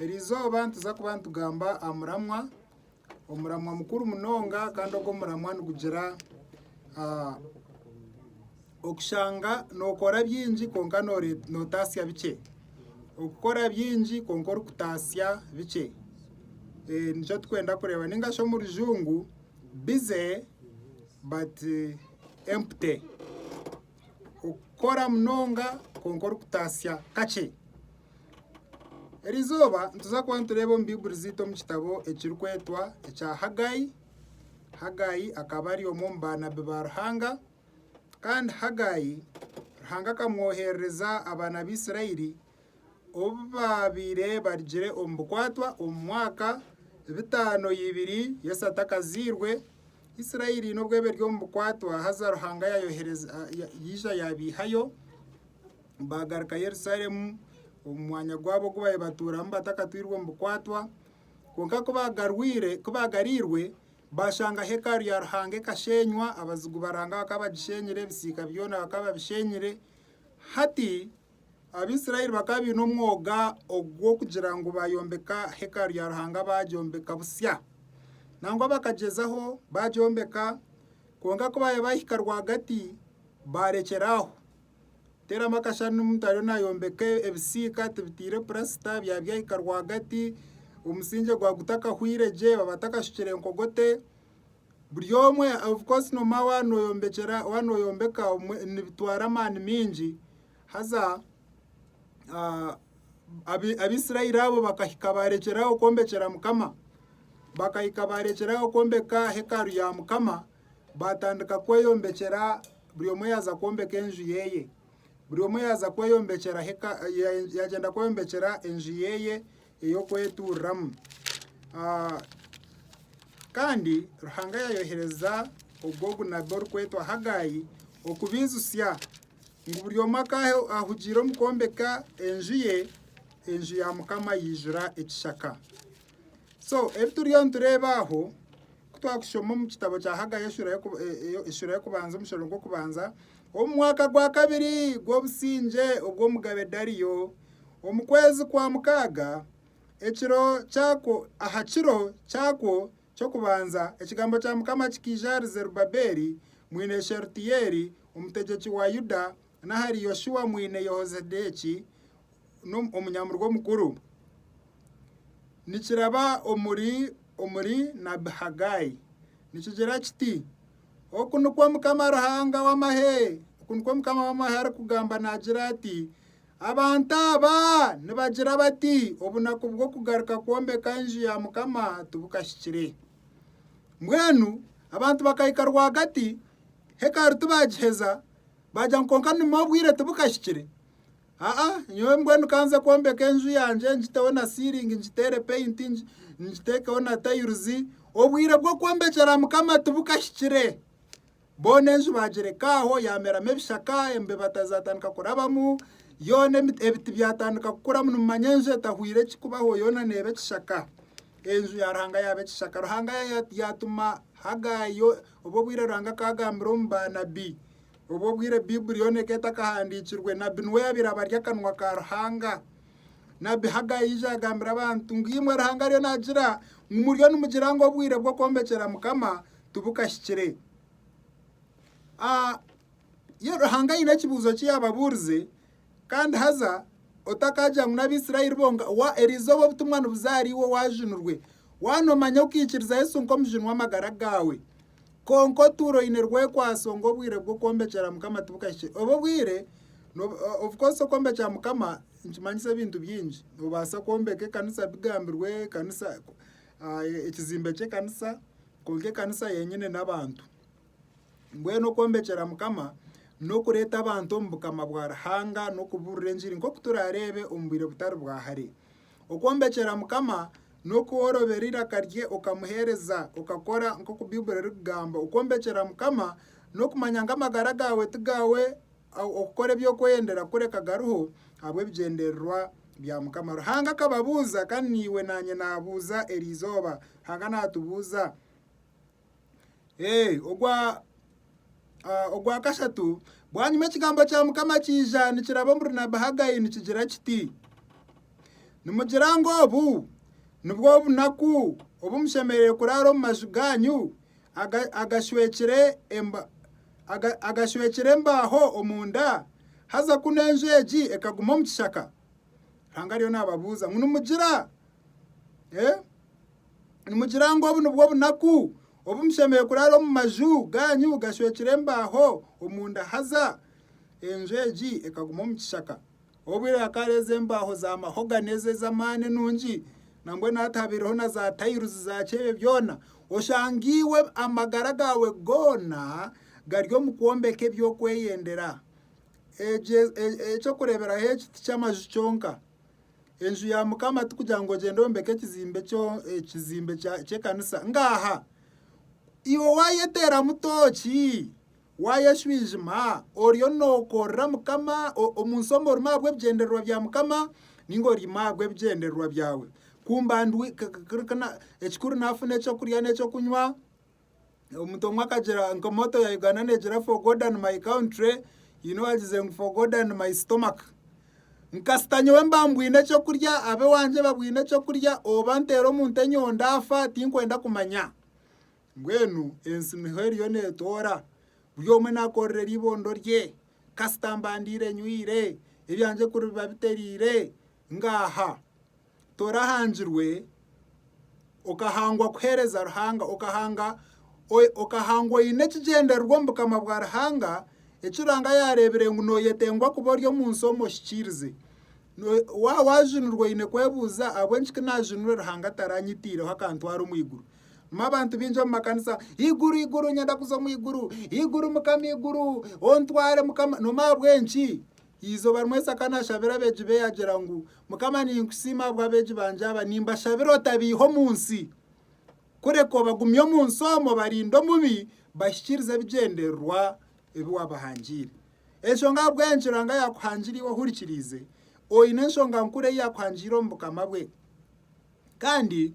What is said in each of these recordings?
Eri izooba nituza kuba nitugamba aha muramwa, omuramwa mukuru munonga kandi ogu omuramwa nigugira okushanga nookora bingi kwonka nootatsya bikye, okukora bingi kwonka orikutatsya bikye nikyo turikwenda kureeba ninga shi omu rujungu busy but empty. okukora munonga kwonka orikutaasya kakye. Eri izooba nituza kuba nitureeba omu baiburi zaitu omu kitabo ekirikwetwa ekya Hagai. Hagai akaba ari omwe omu baanabi ba Ruhanga kandi Hagai Ruhanga akamwoherereza abaana ba Isirairi obu baabaire barugire omu bukwatwa omu mwaka bitaano ibiri Yesu atakazairwe, Israeli n'obu eriyo eri omu bukwatwa haza Ruhanga yaija yaabaihayo baagaruka Yerusalemu omu mwanya gwabo ogu baabaire batuuramu batakatwirwe omu bukwatwa. Kwonka ku baagariirwe baashanga hekalu ya Ruhanga ekasheenywa, abazigu ba Ruhanga bakaba bagishenyire, ebisiika byona bakaba babishenyire. Hati Abaisraeli bakaba baine omwoga ogw'okugira ngu baayombeka hekalu ya Ruhanga baagyombeka busya. Nangwa bakagyezaho, baagyombeka, kwonka ku baaya baahika rwagati baarekyera aho. Teeramu akashushani n'omuntu ariyo naayombeka ebisiika tibitaire purasita, byaba byahika rwagati, omusingye gwagutakahwire gye, batakashukire nkogote. Buri omwe of course nomba waaba noyombekyera waaba noyombeka nibitwara amaani maingi haza Abaisraeli abo bakahika baarekyeraaho kwombekyera Mukama. Bakahika baarekyeraaho kwombeka hekalu ya Mukama, baatandika kweyombekyera buri omwe yaaza kwombeka enju yeeye. Buri omwe yaaza kweyombekyera hekalu yaagyenda kweyombekyera enju yeeye ey'okwetuuriramu. Kandi Ruhanga yaayohereza ogwo ogunabi orikwetwa Hagai okubaijusya ngu buri omwe akaaha ahugiire omu kwombeka enju ye, enju ya Mukama yaijura ekishaka. So ebi turiyo nitureeba aho Ku twakushoma omu kitabo kya Hagayi eshura y'okubanza omushoro gw'okubanza, omu mwaka gwa kabiri gw'obusingye obw'omugabe Dariyo, omu kwezi kwa mukaaga, ekiro kyakwo, aha kiro kyakwo ky'okubanza, ekigambo kya Mukama kikaija ahari Zerubabeeli mwine Sherutiyeeli, omutegyeki wa Yuda, n'ahari Yoshua mwine Yehozedeeki, n'omunyamurwa omukuru, nikiraba omuri nabbi Hagai nikigira kiti, Oku nikwo Mukama Ruhanga w'amahe arikugamba naagira ati, Abantu aba nibagira bati, Obunaku bw'okugaruka kwombeka enju ya Mukama tibukahikire. Mbwenu abantu bakahika rwagati, hekalu tibaagiheza, baagira ngu, Kwonka ni obwire tibukahikire. Aa, nyowe mbwenu ka nze kwombeka enju yangye, ngiteho na siiringi, ngiteere peyinti, ngiteekeho na tayiruzi. Obwire bw'okwombekera Mukama tibukahikire. Boona enju baagireka aho, yaameramu ebishaka, embeba zaatandika kurabamu, yoona ebiti byatandika kukuramu. Nimumanya enju etahwire ki kubaho? Yoona neeba ekishaka. Enju ya Ruhanga yaaba ekishaka. Ruhanga yaatuma Hagaayi, obwo obwire Ruhanga akaagambira omu baanabi. Obwo obwire Baibuli yoona ekaba etakahandiikirwe, nabbi niwe yaabaire abari akanwa ka Ruhanga. Nabbi Hagayi yaija yagambira abantu ngu, Imwe Ruhanga ariyo naagira ngu muriyo nimugira ngu obwire bw'okwombekera Mukama tibukahikire. Ruhanga aine ekibuuzo ki yaababuurize, Kandi haza otakagira ngu n'Abaisraeli bonka, wa, erizooba obutumwa nibuza ahari iwe waajunirwe, wa noomanya okaikiriza Yesu nk'omujuni w'amagara gaawe. Kwonka otuura oine rwekwaso ngu obwire bw'okwombekera Mukama tibukahikire. Obu obwire nobu obukozesa okwombekera Mukama nikimanyisa ebintu bingi. Noobaasa kwombeka ekanisa bigambirwe, ekanisa ekizimbe ky'ekanisa, kwonka ekanisa yenyine n'abantu. Mbwenu okwombekyera Mukama n'okureeta abantu omu bukama bwa Ruhanga n'okubuurira engiri nk'oku turaareebe omu bwire butari bwa hare. Okwombekyera Mukama n'oku woorobera eiraka rye okamuheereza, okakora nk'oku Baiburi erikugamba. Okwombekyera Mukama n'okumanya ngu amagara gaawe ti gaawe, okukora ebi orikweyendera kureka gariho ahabw'ebigyendererwa bya Mukama. Ruhanga akababuuza kandi naiwe naanye naabuuza erizooba. Ruhanga naatubuuza Ee, ogwa, ah, ogwa kashatu. Bwanyima ekigambo kya Mukama kiija nikiraba omuri Nabi Haggai nikigira kiti, Nimugira ngu obu nibwo obunaku obu mushemereire kuraara omu maju gaanyu aga- agashwekire emba- aga- agashwekire embaaho omunda, haza kunu enju egi ekaguma omu kishaka? Ruhanga ariyo naababuuza ngu, Nimugira? Eh? Nimugira ngu obu nibwo bunaku obu mushemereire kuraara omu maju gaanyu gashwekire embaaho omunda? Haza enju egi ekaguma omu kishaka. Obwire hakaara ezo embaaho za mahogani ezo ez'amaani enungi, nambwenu hati habaireho na zaatayiruzi zaaki ebyo byona. Oshanga iwe amagara gaawe goona gari omu kwombeka ebyokweyendera. Ekyo eky'okureeberaho eki tiky'amaju kyonka. Enju ya Mukama ti kugira ngu ogyende oyombeke ekizimbe ky'ekanisa. Ngaaha! Iwe waayeteeramu tooki, waayeshwijima, oriyo nookorera Mukama omu nsi omu orimu ahabw'ebigyendererwa bya Mukama nainga orimu ahabw'ebigyendererwa byawe? Ekikuru naafuna eky'okurya n'eky'okunywa. Omuntu omwe akagira nka moto ya Uganda negira for God and my country haine owagize ngu for God and my stomach. Kasita nyowe mba mbwine eky'okurya ab'ewaangye babwine eky'okurya oba nteera omuntu enyondo ndaafa tinkwenda kumanya. Mbwenu ensi niho eriyo neetoora buri omwe naakorera eriibondo rye kasita mba ndiire nywire ebyangye kuribiba bitereire Ngaaha, torahangirwe, okahangwa kuheereza Ruhanga, okahanga, okahangwa oine ekigyendererwa omu bukama bwa Ruhanga, eki Ruhanga yaareebire ngu nooyetengwa kuba ori omu nsi omu ohikiirize. Waaba waajunirwa oine kwebuuza ahabw'enki ku naajunirwe Ruhanga ataranyitiireho akantwara omu iguru? Nimwo abantu baingi omu makanisa, Iguru, iguru, nyenda kuza omu iguru, iguru, Mukama, iguru, ontware Mukama. Noomanya ahabw'enki? Eizooba rimwe Isaaka naashabira abeegi be yaagira ngu, Mukama ninkusiima ahabw'abeegi bangye aba, nimbashabira otabaiha omu nsi, kureka obagumye omu nsi omwo obarinde omubi, bahikiirize ebigyendererwa ebi waabahangiire. Enshonga ahabw'eyo nikiranga yaakuhangire iwe ohurikiriize, oine enshonga nkuru ei yaakuhangiire omu Bukama bwe. Kandi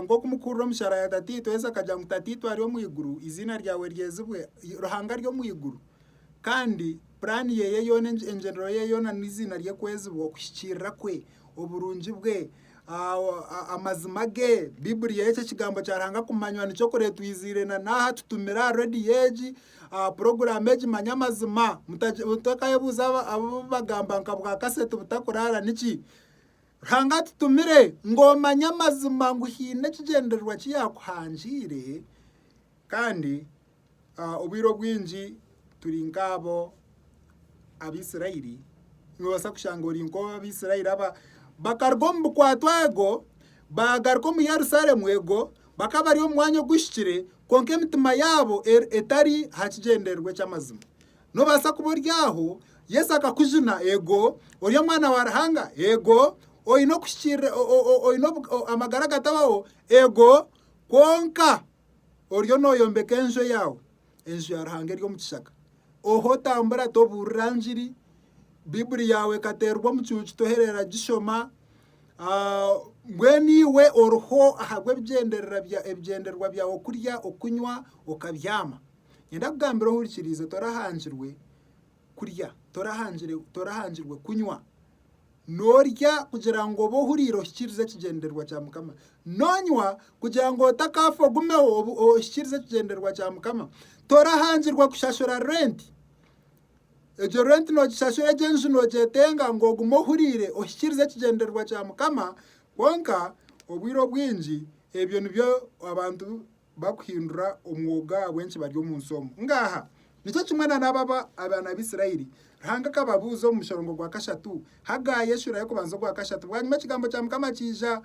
nk'oku mukuhurira omushara ya Tataitwe, Yesu akagira ngu Tataitwe ari omu iguru, eiziina ryawe ryezibwe, Ruhanga ari omu iguru kandi puraani yeye yoona, engyendero yeye yoona n'eiziina rye kwezibwa, okuhikiirira kwe, oburungi bwe, amazima ge, Baiburi yeye eki ekigambo kya Ruhanga kumanywa nikyo kuretwiziire na n'aha tutumire aha rediyo egi, aha puroguraamu egi manya amazima, mutakayebuuza abu bagamba nka bwa kaseti butakuraara niki? Ruhanga atutumire ngu omanye amazima ngu haine ekigyendererwa ki yaakuhangiire kandi obwire obwingi turi nk'abo Abaisiraeli. Noobaasa kushanga ori nk'obu Abaisiraeli aba bakaruga omu bukwato ego baagaruka omu Yerusalemu ego bakaba bari omu mwanya oguhikire kwonka emitima yaabo etari aha kigyendererwa eky'amazima. Noobaasa kuba ori aho, Yesu akakujuna, eego, ori omwana wa Ruhanga, eego, oine okuhikiirira, oine amagara agatabaho, eego, kwonka oriyo nooyombeka enju eyaawe, enju ya Ruhanga eri omu kishaka, oha otambura tobuurira njiri, Baiburi yaawe ekateerwa omucuucu tohereera gishoma, mbwenu iwe oriho ahabw'ebigyendererwa byawe, okurya, okunywa, okabyama. Nyowe ndakugambira ohurikiriize, torahangirwe kurya, torahangirwe kunywa, norya kugira ngu obe ohuriire ohikirize ekigyendererwa kya mukama, nonywa kugira ngu otakaafa ogumeho ohikirize ekigyendererwa kya mukama, torahangirwe kushashura renti, egyo renti nogishashura egyo enju nogyeteenga ngu ogume ohuriire ohikirize ekigyendererwa kya mukama, kwonka obwire obwingi ebyo nibyo abantu bakuhindura omwogo ahabw'enki bari omu nsi omu. Ngaaha, nikyo kimwe na n'aba abaana ba Isiraeli. Ruhanga akababuuza omu mushorongo gwa kashatu, Hagayi eshura y'okubanza ogwa kashatu. Bwanyima ekigambo kya Mukama kiija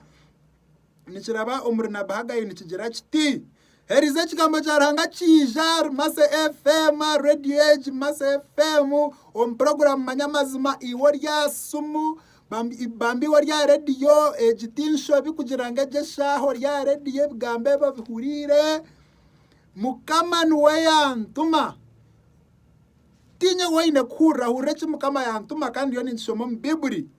nikiraba omuri nabi Hagayi nikigira kiti, Heriza ekigambo kya Ruhanga kiija ahari Massa FM, Radio Age, Massa FM, omu puroguraamu Manya Amazima, iwe ori aha simu, Bambi bambi ori aha rediyo egi tinshobi kugira ngu egi eshaaha ori aha rediyo ebigambo ebi obihuriire mukama niwe yantuma tinyowe oine kuhurira hurira eki mukama yantuma kandi ndiyo ninkishoma omu bibuli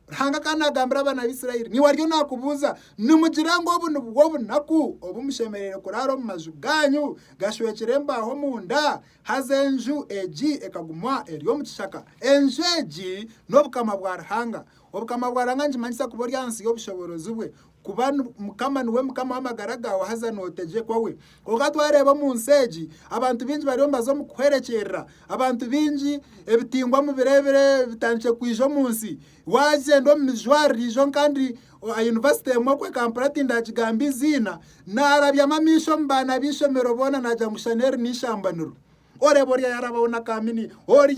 ruhanga kandi nagambira abaana ba isirairi niwe ariyo nakubuuza nimugira ngu obu nibwo obunaku obu mushemereire kuraara omu maju gaanyu gashwekire embaaho omunda Haza enju egi ekaguma eri omu kishaka. Enju egi n'Obukama bwa Ruhanga. Obukama bwa Ruhanga nikimanyisa kuba ori ahansi y'obushoboorozi bwe, kuba Mukama niwe Mukama w'amagara gaawe haza nootegyekwa we. Kwonka twareeba omu nsi egi, abantu baingi bariyo nibaza omu kuhwerekyerera. Abantu baingi ebitingwa omu biro ebitandikire kwija omu nsi, Waagyenda omu mijwarire ijo nkandi oha yunivasite emwe okwe Kampala tindagigamba eiziina, naarabyamu amaisho omu baana b'eishomero boona naagira ngu shana eri n'eishambaniro. Oreeba ori ayarabaho na kaamini, ori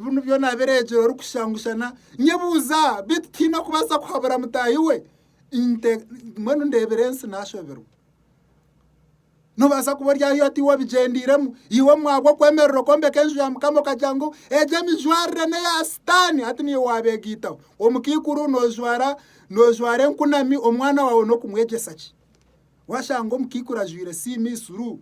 binu byona abireegire orikushusha ngu shana. Nyebuuza, beitu tihaine okubaasa kuhabura mutaahi we? Mbwenu ndeebire ensi naashoberwa. Noobaasa kuba ori ahi oti w'obigyendeiremu. Iwe omu mwaka gw'okwemerera okwombeka enju ya Mukama okagira ngu egyo emijwarire n'eya Sitaani hati niiwe waabeegaitaho. Omukaikuru noojwara noojwara enkunami omwana waawe n'okumwegyesa ki? Waashanga omukaikuru ajwaire siiniisuru,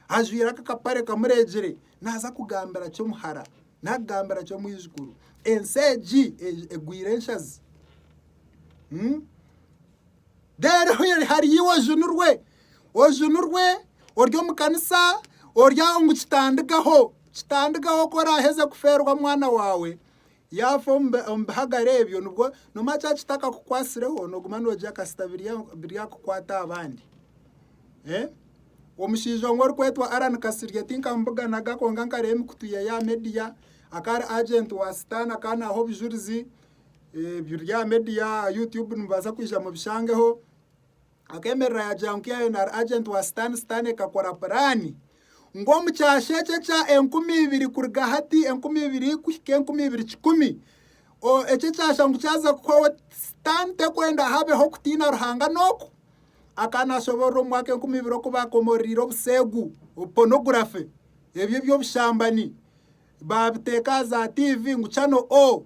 ajwaire aka akapare kamureegire naaza kugambira ki omuhara naakugambira ki omwijukuru? Ensi egi egwire enshazi. Reero hwera hariyo iwe ojunirwe, ojunirwe ori omu kanisa ori aho ngu kitandigaho, kitandigaho ku oraaheze kufeerwa omwana waawe yaafa omu bihagare ebyo nibwo noomanya kyaba kitakakukwatsireho nooguma noogirya kasita biryakukwata aha bandi. Omushaija omwe orikwetwa Allan Kasirye tinkamubuganaga kwonka nkareeba emikutu yeeye aha meediya akaba ari ajenti wa sitaane akaba naaha obujurizi Biri aha media aha YouTube nimubaasa kwija mubishangeho. Akeemerera yaagira ngu KNR agent wa sitaani, sitaani ekakora puraani ngu omu kyasha eki ekya enkumi ibiri kuruga hati enkumi ibiri kuhika enkumi ibiri kikumi o- eki ekyasha ngu kyaza kuhwaho sitaani tekwenda habeho kutiina Ruhanga n'oku akaba naashoboorora omu mwaka enkumi ibiri oku baakomororiire obuseegu, pornography, ebyo eby'obushambani. Baabiteeka aha za tiivi ngu Channel O.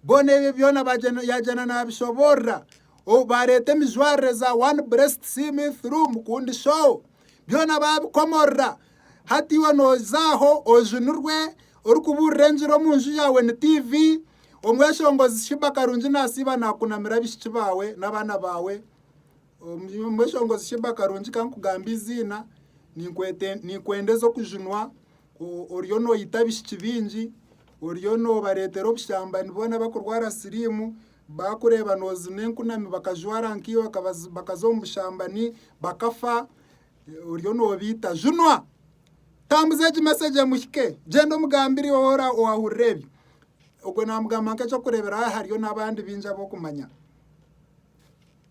Boona ebyo byona bagyenda yaagyenda naabishoboorora. O baareeta emijwarire za One Breast See Me Through, Mukundi Show, byona baabikomorora. Hati iwe nooza aho ojunirwe orikubuurira enjiri omu nju yaawe ni tiivi, Omweshongozi Sheebah Karungi naasiiba naakunamira abaishiki baawe n'abaana baawe. Omu eshongozi Shiba Karungi ka nkugambe eiziina, ninkwenda eze okujunwa oriyo noyita abishiki baingi, oriyo nobareetera obushambani boona bakurwara siriimu, baakureeba nozina enkunami bakajwara nkaiwe bakaza omu bushambani bakafa oriyo nobaita. Junwa! Tambuza egi message emuhike, gyenda omugambire owora owahurire ebyo. Ogwo namugamba nk'ekyokureeberaho hariyo n'abandi baingi abu okumanya.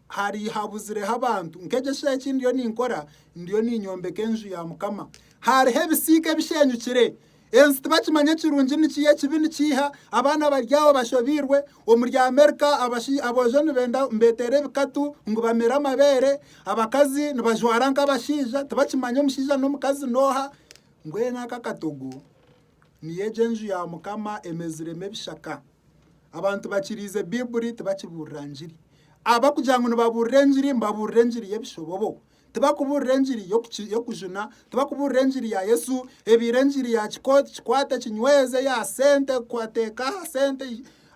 Hari habuzireho abantu, nk'egi esheeha eki ndiyo ninkora, ndiyo ninyombeka enju ya Mukama. Hariho ebisiika ebishenyukire. Ensi tibakimanya ekirungi niki, ekibi nikiiha. Abaana bari aho bashobeirwe. Omuri Amerika abashi- aboojo nibenda nibeteera ebikatu ngu bamere amabeere. Abakazi nibajwara nk'abashaija, tibakimanya omushaija n'omukazi n'oha. Mbwenu aka akatogo Niyo egyo enju ya Mukama emeziremu ebishaka. Abantu bakiriize Baiburi tibakibuurira ngiri. Abarikugira ngu nibabuurira engiri nibabuurira engiri y'ebishobobo. Tibarikubuurira engiri y'okujuna, tibarikubuurira engiri ya Yesu, ebaire engiri ya kikooti kikwate kinyweze, eya sente teeka aha sente.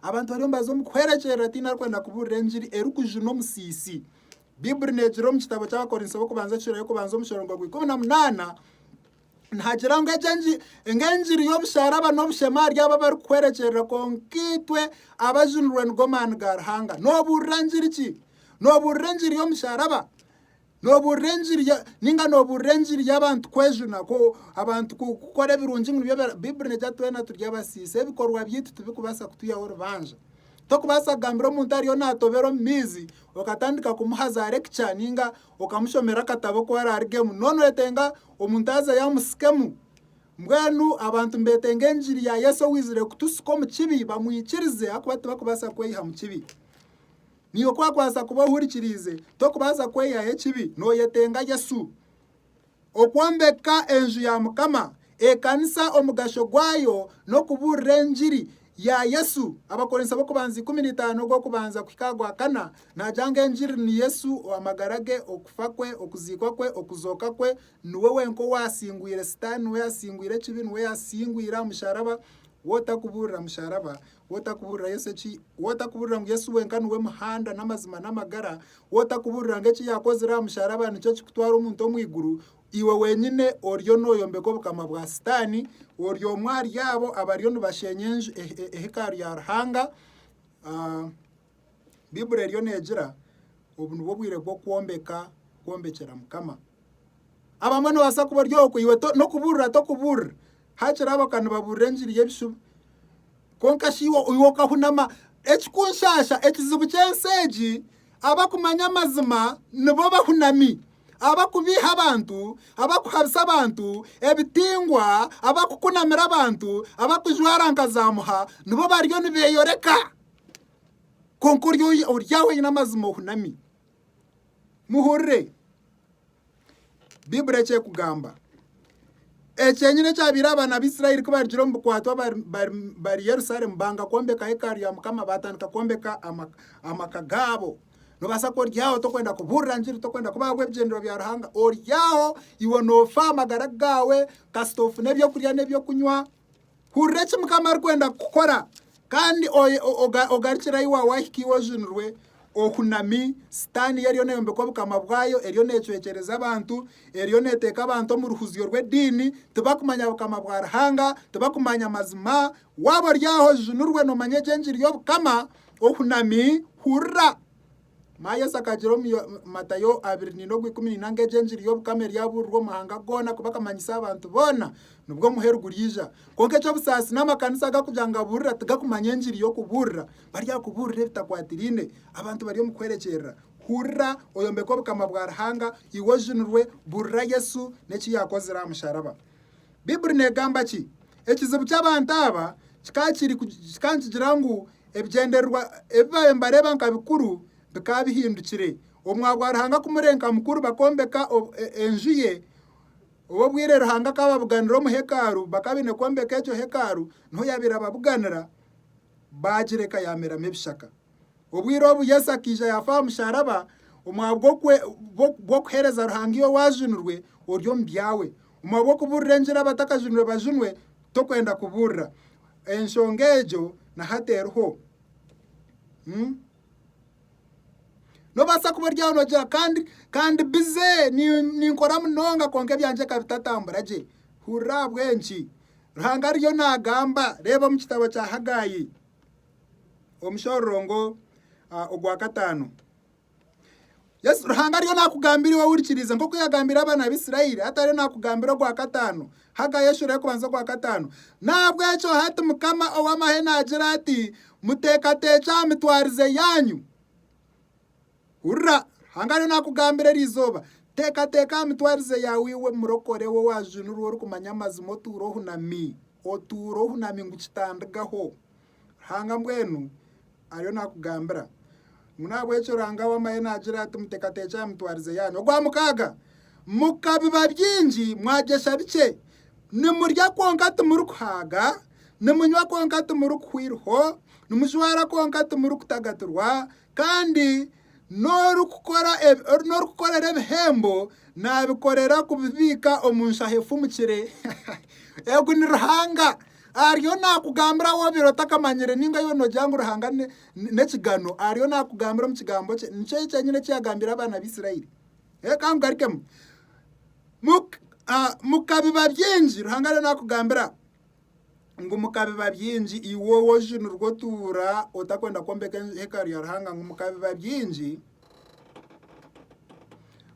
Abantu bariyo nibaza omu kuhwerekyerera tihaine arikwenda kubuurira engiri erikujuna omusiisi. Baiburi neegira omu kitabo ky'Abakorinso b'okubanza ekicweka ky'okubanza omu muringo gwa ikumi na munaana, Nihagira ngu egi engiri y'obusharaba n'obushema ahari abo abarikuhwerekyerera, kwonka itwe abajunirwe nigo maani ga Ruhanga. Noobuurira ngiri ki? Noobuurira engiri y'omusharaba? Noobuurira engiri ninga noobuurira engiri y'abantu kwejuna abantu kukora ebirungi ngu nibyo Baiburi negira ngu twena turi abasiisi ebikorwa byaitu tibikubaasa kutwihaho orubanja. Tokubaasa kugambira omuntu ariyo naatobera omu maizi okatandika kumuhazaara ekica ninga okamushomera akatabo ku araarugemu, na onwetenga omuntu aze yamusikemu. Mbwenu abantu nibetenga engiri ya Yesu owizire kutusika omu kibi bamwikirize ahakuba tibakubaasa kweyiha mu kibi. Niiwe ku wakubaasa kuba ohurikiriize, tokubaasa kweyihaho ekibi, noyetenga Yesu. Okwombeka enju ya Mukama, ekanisa, omugasho gwayo n'okubuurira engiri ya Yesu, Abakorinso b'okubanza ikumi na itaano ogw'okubanza kuhika aha gwa kana, naagira ngu engiri ni Yesu, ow'amagara ge, okufa kwe, okuziikwa kwe, okuzooka kwe, niwe wenka owaasingwire sitaani, niwe yaasingwire ekibi, niwe yaasingwire aha musharaba, wootakubuurira musharaba Wotakuburira Yesu eki Wotakuburira ngu Yesu wenka niwe muhanda n'amazima n'amagara Wotakuburira ngu eki yakozire aha musharaba nikyo kikutwara omuntu omu iguru Iwe wenyine oriyo noyombeka obukama bwa sitani Ori omwe ahari abo abariyo nibashenya enju ehekaru ya Ruhanga Baibuli eriyo neegira obu nibwo bwire bw'okwombeka, kwombekyera Mukama. Abamwe noobaasa kuba ori okwo iwe n'okubuurira tokubuurira, hakiri abo ka nibabuurira engiri y'ebishuba. Kwonka shi iwe okahunama ekikunshaasha ekizibu ky'ensi egi abakumanya amazima nibo bahunami abakubiiha abantu, abakuhabisa abantu, ebitingwa, abakukunamira abantu, abakujwara nka zaamuha nibo bariyo nibeeyoreka. Kwonka ori aho oine amazima ohunami. Muhurire, Baiburi eki ekugamba, ekyenyine ekyabaire abaana b'Israeli ku barugire omu bukwatwa bari Yerusalemu banga kwombeka hekalu ya Mukama baatandika kwombeka amaka gaabo. Noobaasa kuba ori aho torikwenda kubuurira njiri, torikwenda kuba ahabw'ebigyendero bya Ruhanga, ori aho iwe noofa amagara gaawe kasita ofuna eby'okurya n'eby'okunywa. Hurira eki Mukama arikwenda kukukora kandi ogarukire ahi waawe wahika iwe ojunirwe ohunami. Sitaani yo eriyo neeyombeka obukama bwayo, eriyo neecwekyereza abantu, eriyo neeteeka abantu omu ruhuzyo rw'ediini. Tibakumanya bukama bwa Ruhanga, tibakumanya mazima. Waaba ori aho ojunirwe noomanya egi engiri y'Obukama ohunami. Hurira! Mara Yesu akagira omu Matayo abiri neina ogwikumi neina ngu egyo engiri y'obukama eryabuurirwa omu mahanga goona kuba akamanyisa aha bantu boona nibwo omuheru guryaija. Kwonka eky'obusaasi n'amakanisa agu arikugira ngu abuurira tigakumanya engiri y'okubuurira bari aha kubuurira ebitakwatiraine abantu bari omu kwerekyerera. Hurira oyombeke obukama bwa Ruhanga iwe ojunirwe, buurira Yesu n'eki yaakozire aha musharaba. Baibuli neegamba ki? Ekizibu ky'abantu aba kikaba kiri kikaba nikigira ngu ebigyendererwa ebi baabaire nibareeba nka bikuru bikaba bihindukire. Omwa gwa Ruhanga kumurenka mukuru bakombeka e, enju ye, obwire Ruhanga akababuganira omu hekaaru bakaba baine kwombeka egyo hekaaru, niho yaabaire ababuganira, baagireka yaameramu ebishaka. Obwire obu Yesu akaija yaafa aha musharaba omwabwe gw'okwe- gw'ok- gw'okuheereza Ruhanga iwe waajunirwe ori omu byawe. Omwabwe gw'okubuurira enjiri abatakajunirwe bajunwe, tokwenda kubuurira. Enshonga egyo na hati eriho. Mm. Nobaasa kuba ori aho nogira kandi kandi bize ni- ninkora munonga kwonka ebyangye bikaba bitatambura gye. Hurira ahabw'enki? Ruhanga ariyo naagamba, reeba omu kitabo kya Hagaayi. omushororongo ogwa kataano. Yesu Ruhanga ariyo nakugambira iwe wurikiriza nk'oku yagambira abaana b'Isiraeli hati ariyo nakugambira ogwa kataano Haggai eshoro y'okubanza ogwa kataano nahabw'ekyo hati Mukama ow'amahe naagira ati muteekateekye aha mitwarize yaanyu Hurira! Ruhanga ariyo naakugambira eri izooba. Teekateeka aha mitwarize yaawe iwe murokore, we waajunirwe orikumanya amazima otuure ohunami. Otuure ohunami ngu kitandigaho. Ruhanga mbwenu ariyo naakugambira ngu n'ahabw'ekyo Ruhanga ow'amahe naagira ati, Muteekateekye aha mitwarize yaanyu. Ogwa mukaaga, Mukabiba bingi, mwagyesha bikye. Nimurya kwonka timurikuhaaga, nimunywa kwonka timurikuhwa eiriho, nimujwara kwonka timurikutagatirwa, Kandi n'orikukorera ebihembo naabikorera kubibiika omu nshaho efumukire. Ogu ni Ruhanga ariyo naakugambira waaba obiire otakamanyire ninga waaba noogira ngu Ruhanga n'ekigano ariyo naakugambira omu kigambo kye. Nikyo kyenyine eki yaagambire abaana b'Israeli. Ka nkugarikemu, mukabiba bingi, Ruhanga ariyo naakugambira. ngu mukabiba byingi, iwe owoju nirwo otuura otakwenda kwombeka hekalu ya Ruhanga ngu mukabiba byingi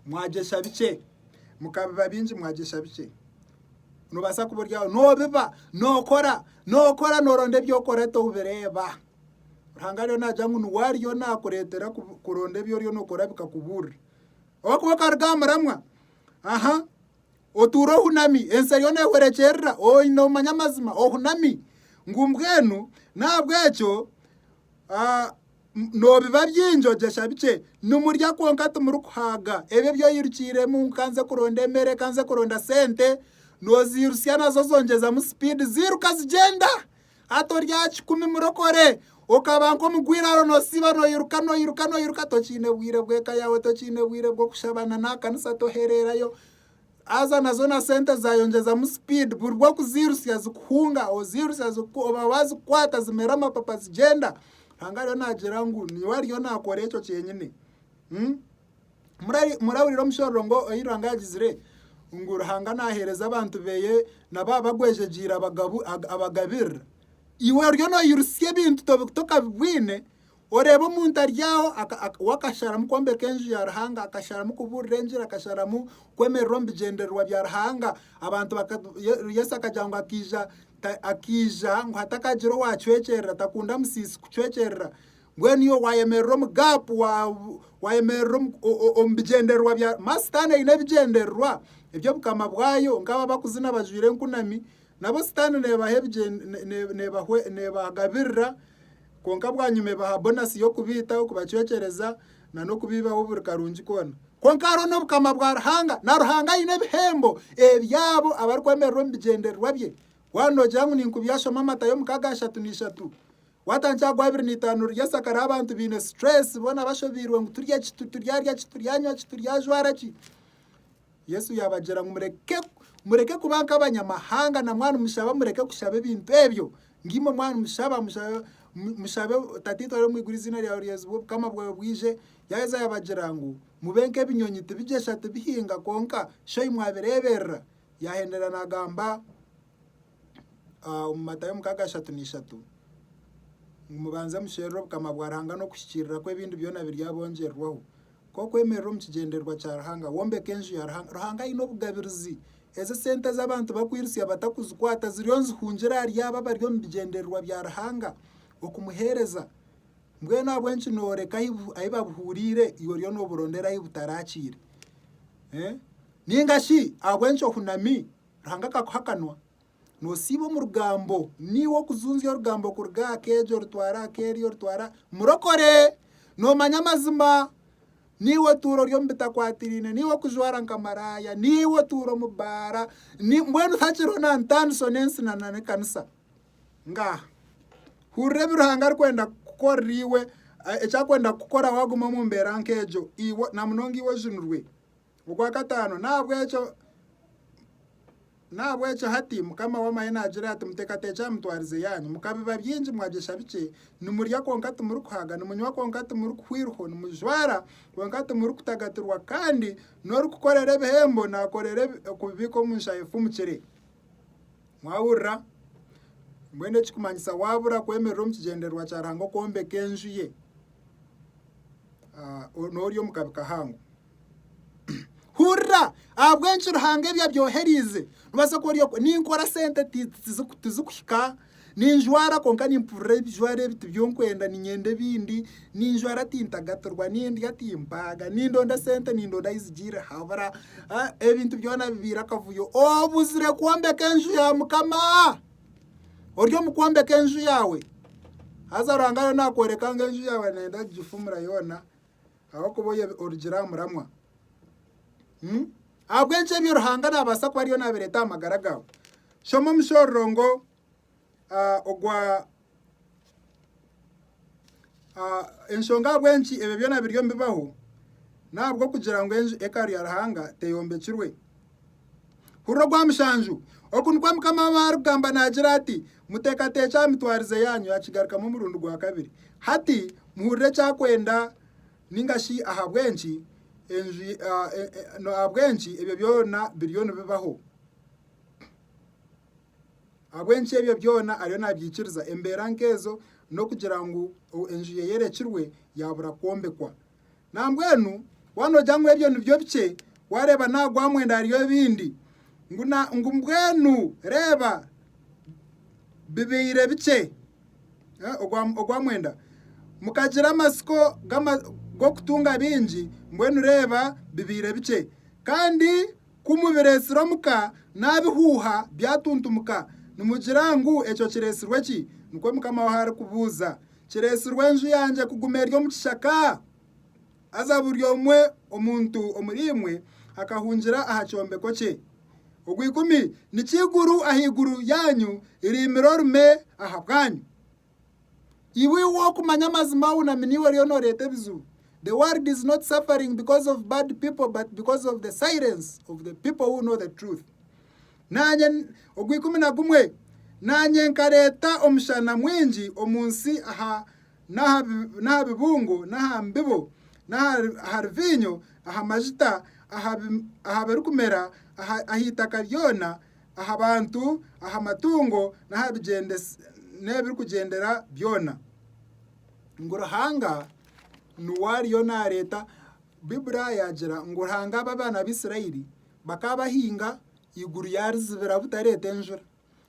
mwagyesha bikye mukabiba byingi mwagyesha bikye nobaasa kuba oryaho nobiba nokora nokora noronda ebyokora tobireeba Ruhanga ariyo nagya ngu niwe ariyo nakureetera kuronda ebi oriyo nokora bikakubuurira oba kuba okaruga aha muramwa aha Otuura ohunami, ensi eriyo neehwerekyerera, oine omanya amazima, ohunami ngu mbwenu n'ahabw'ekyo noobiba bingi ogyesha bikye. Nimurya kwonka timurikuhaaga, ebyo ebi oyirukiiremu, ngu ka nze kuronda emere, ka nze kuronda sente, nooziirutsya nazo zongyezamu sipiidi ziiruka zigyenda. Hati ori aha kikumi murokore, okaba nk'omugwa iraro nosiiba noiruka noiruka noiruka tokiine bwire bw'eka yaawe tokiine bwire bw'okushaba na n'aha kanisa tohereerayo haza na zoona sente zaayo ngyezamu sipiidi buri bw'okuziirutsya zikuhunga oziirutsya zikuku oba waazikukwata zimera amapapa zigyenda. Ruhanga ariyo naagira ngu niiwe ariyo naakora ekyo kyenyine. Murahurira omushororongo ngu oyi Ruhanga yagizire ngu Ruhanga nahereza abantu beye nabo abagwejegiire abagabirira. Iwe oriyo noyirutsya ebintu tobikuta okabibwine oreeba omuntu ari aho we akasharamu kwombeka enju ya Ruhanga, akasharamu kuburira enjiri, akasharamu kwemerera omu bigyendererwa bya Ruhanga. Abantu Yesu akagira ngu akaija ngu hatakagire owacwekyerera, takunda musiisi kucwekyerera. Mbwenu iwe waayemerera omu gaapu, waayemerera omu bigyendererwa bya... Ma Sitaane aine ebigyendererwa eby'Obukama bwayo, nk'abo abakuzina bajwaire enkunami, nabo Sitaane neebaha neebagabirira, kwonka bwanyima ebaha bonasi y'okubaita, okubacwekyereza, nan'okubiibaho buri karungi koona. Kwonka hariho n'Obukama bwa Ruhanga, na Ruhanga aine ebihembo eby'abo abarikwemerera omu bigyendererwa bye. Waaba noogira ngu ninkubyashoma Matayo mukaaga nshatu na ishatu, Watangi ago abiri n'eitaano riri esaka ry'abantu baine stress boona bashobeirwe ngu turye ki, turyarya ki, turyanywa ki, turyajwara ki. Yesu yaabagira ngu mureke mureke kuba nk'abanyamahanga na mwanu mushaba mureke kushaba ebintu ebyo. Ngimwe mwanu mushaba mushaba mushabe Tataitwe ari omu iguru eiziina ryawe ryezibwe obukama bwawe bwije. Yaaheza yaabagira ngu mube nk'ebinyonyi tibigyesha tibihinga kwonka Shoimwe abireeberera. Yaahenderera naagamba. omu Matayo mukaaga ashatu n'ishatu ngu mubanze musherure obukama bwa Ruhanga n'okuhikiirira kwe ebindi byona biryabongyererwaho. Nk'okwemerera omu kigyendererwa kya Ruhanga, wombeke enju ya Ruhanga. Ruhanga aine obugabirizi. Ezi sente ezi abantu bakwirutsya batakuzikwata ziriyo nizihungira ahari abo abari omu bigyendererwa bya Ruhanga okumuheereza. Mbwenu ahabw'enki nooreka ahi babuhuuriire iwe oriyo nooburondera ahi butarakiire? Nainga shi ahabw'enki ohunami Ruhanga akakuha akanwa, nosiiba omu rugambo, niiwe okuzunzya orugambo kuruga aha keegi orutwara aha keeri orutwara murokore, nomanya amazima, niiwe otuura ori omu bitakwatiraine, niiwe okujwara nka maraaya, niiwe otuura omu baara, mbwenu hakiriho na ntandiso n'ensi na n'ekanisa. Ngaaha, hurira ebi Ruhanga arikwenda kukukorera iwe, eki akwenda kukukora waguma omu mbeera nk'egyo, iwe na munonga iwe ojunirwe. Ogwa kataano, N'ahabw'ekyo hati, Mukama w'Amahe naagira ati, Muteekateekye aha mitwarize yaanyu. Mukabiba bingi, mwagyesha bikye, nimurya kwonka timurikuhaga, nimunywa kwonka timurikuhwirwaho, nimujwara, kwonka timurikutagatirwa, kandi n'orikukorera ebihembo naakorera okubibiika omu nshaaha efumukire. Mwahurira? Mbwenu ekirikumanyisa waabura kwemerera omu kigyendererwa kya Ruhanga okwombeka enju ye, noori omu kabi kahango. Hurira! Ahabw'enki Ruhanga ebi abyohereize? Noobaasa kuba ori okwo, ninkora sente tizikuhika, ninjwara kwonka nimpurira ebijwaro ebi tibyonkwenda niinyenda ebindi, ninjwara tintagatirwa, nindya timpaaga, nindonda sente nindonda ahu zigiire habura, ebintu byona bibaire akavuyo. Obuzire kwombeka enju ya Mukama! Ori omu kwombeka enju yaawe? Haza Ruhanga ariyo naakworeka ngu enju yaawe nayenda kugifumura yoona. Ahabw'okuba oyo orugire aha muramwa. Hmm? Ahabw'enki ebyo Ruhanga naabaasa kuba ariyo naabireeta aha magara gaawe? Shoma omushororo ngu ah, ogwa ah, enshonga ahabw'enki ebyo byona biriyo nibibaho n'ahabw'okugira ngu enju ekaru ya Ruhanga teyombekirwe. Hurira ogwa mushanju. Oku nikwo Mukama w'Amani arikugamba naagira ati, Muteekateekye aha mitwarize yaanyu yaakigarukamu omurundi gwa kabiri. Hati muhurire eki akwenda nainga shi ahabw'enki ahabw'enki ebyo byona biriyo nibibaho, ahabw'enki ebyo byona ariyo naabyikiriza. Embeera nk'ezo n'okugira ngu enju ye eyorekirwe yaabura kwombekwa. Nambwenu waaba noogira ngu ebyo nibyo bikye, waareeba n'aha gwa mwenda hariyo ebindi. Ngu na ngu mbwenu reeba bibaire bikye. Eh, Ogwa ogwa mwenda. Mukagira amatsiko g'ama- g'okutunga bingi, mbwenu reeba bibaire bikye. Kandi ku mubireetsire omu ka, naabihuuha byatuntumuka, nimugira ngu ekyo kireetsirwe ki? Nikwo Mukama waawe arikubuuza. Kireetsirwe enju yangye kuguma eri omu kishaka? Haza buri omwe omuntu omuriimwe akahungira aha kyombeko kye. Ogw'ikumi, Niki eiguru ahaiguru yaanyu riimire orume ahabwanyu? Iwe iwe okumanya amazima wunami niiwe oriyo noreeta ebizibu. The world is not suffering because of bad people but because of the silence of the people who know the truth. Naanye, ogw'ikumi na gumwe, naanye nkareeta omushana mwingi omu nsi aha n'aha bibungo n'aha mbibo, aha ruviinyo, aha majuta, aha birikumera, aha itaka ryona, aha bantu, aha matungo, n'ebirikugyendera byona. Ngu Ruhanga niwe ariyo naareeta, Baiburi yaagira ngu Ruhanga abe abaana ba Isiraeli. Bakaba bahinga, iguru yaarizibira butareeta enjura.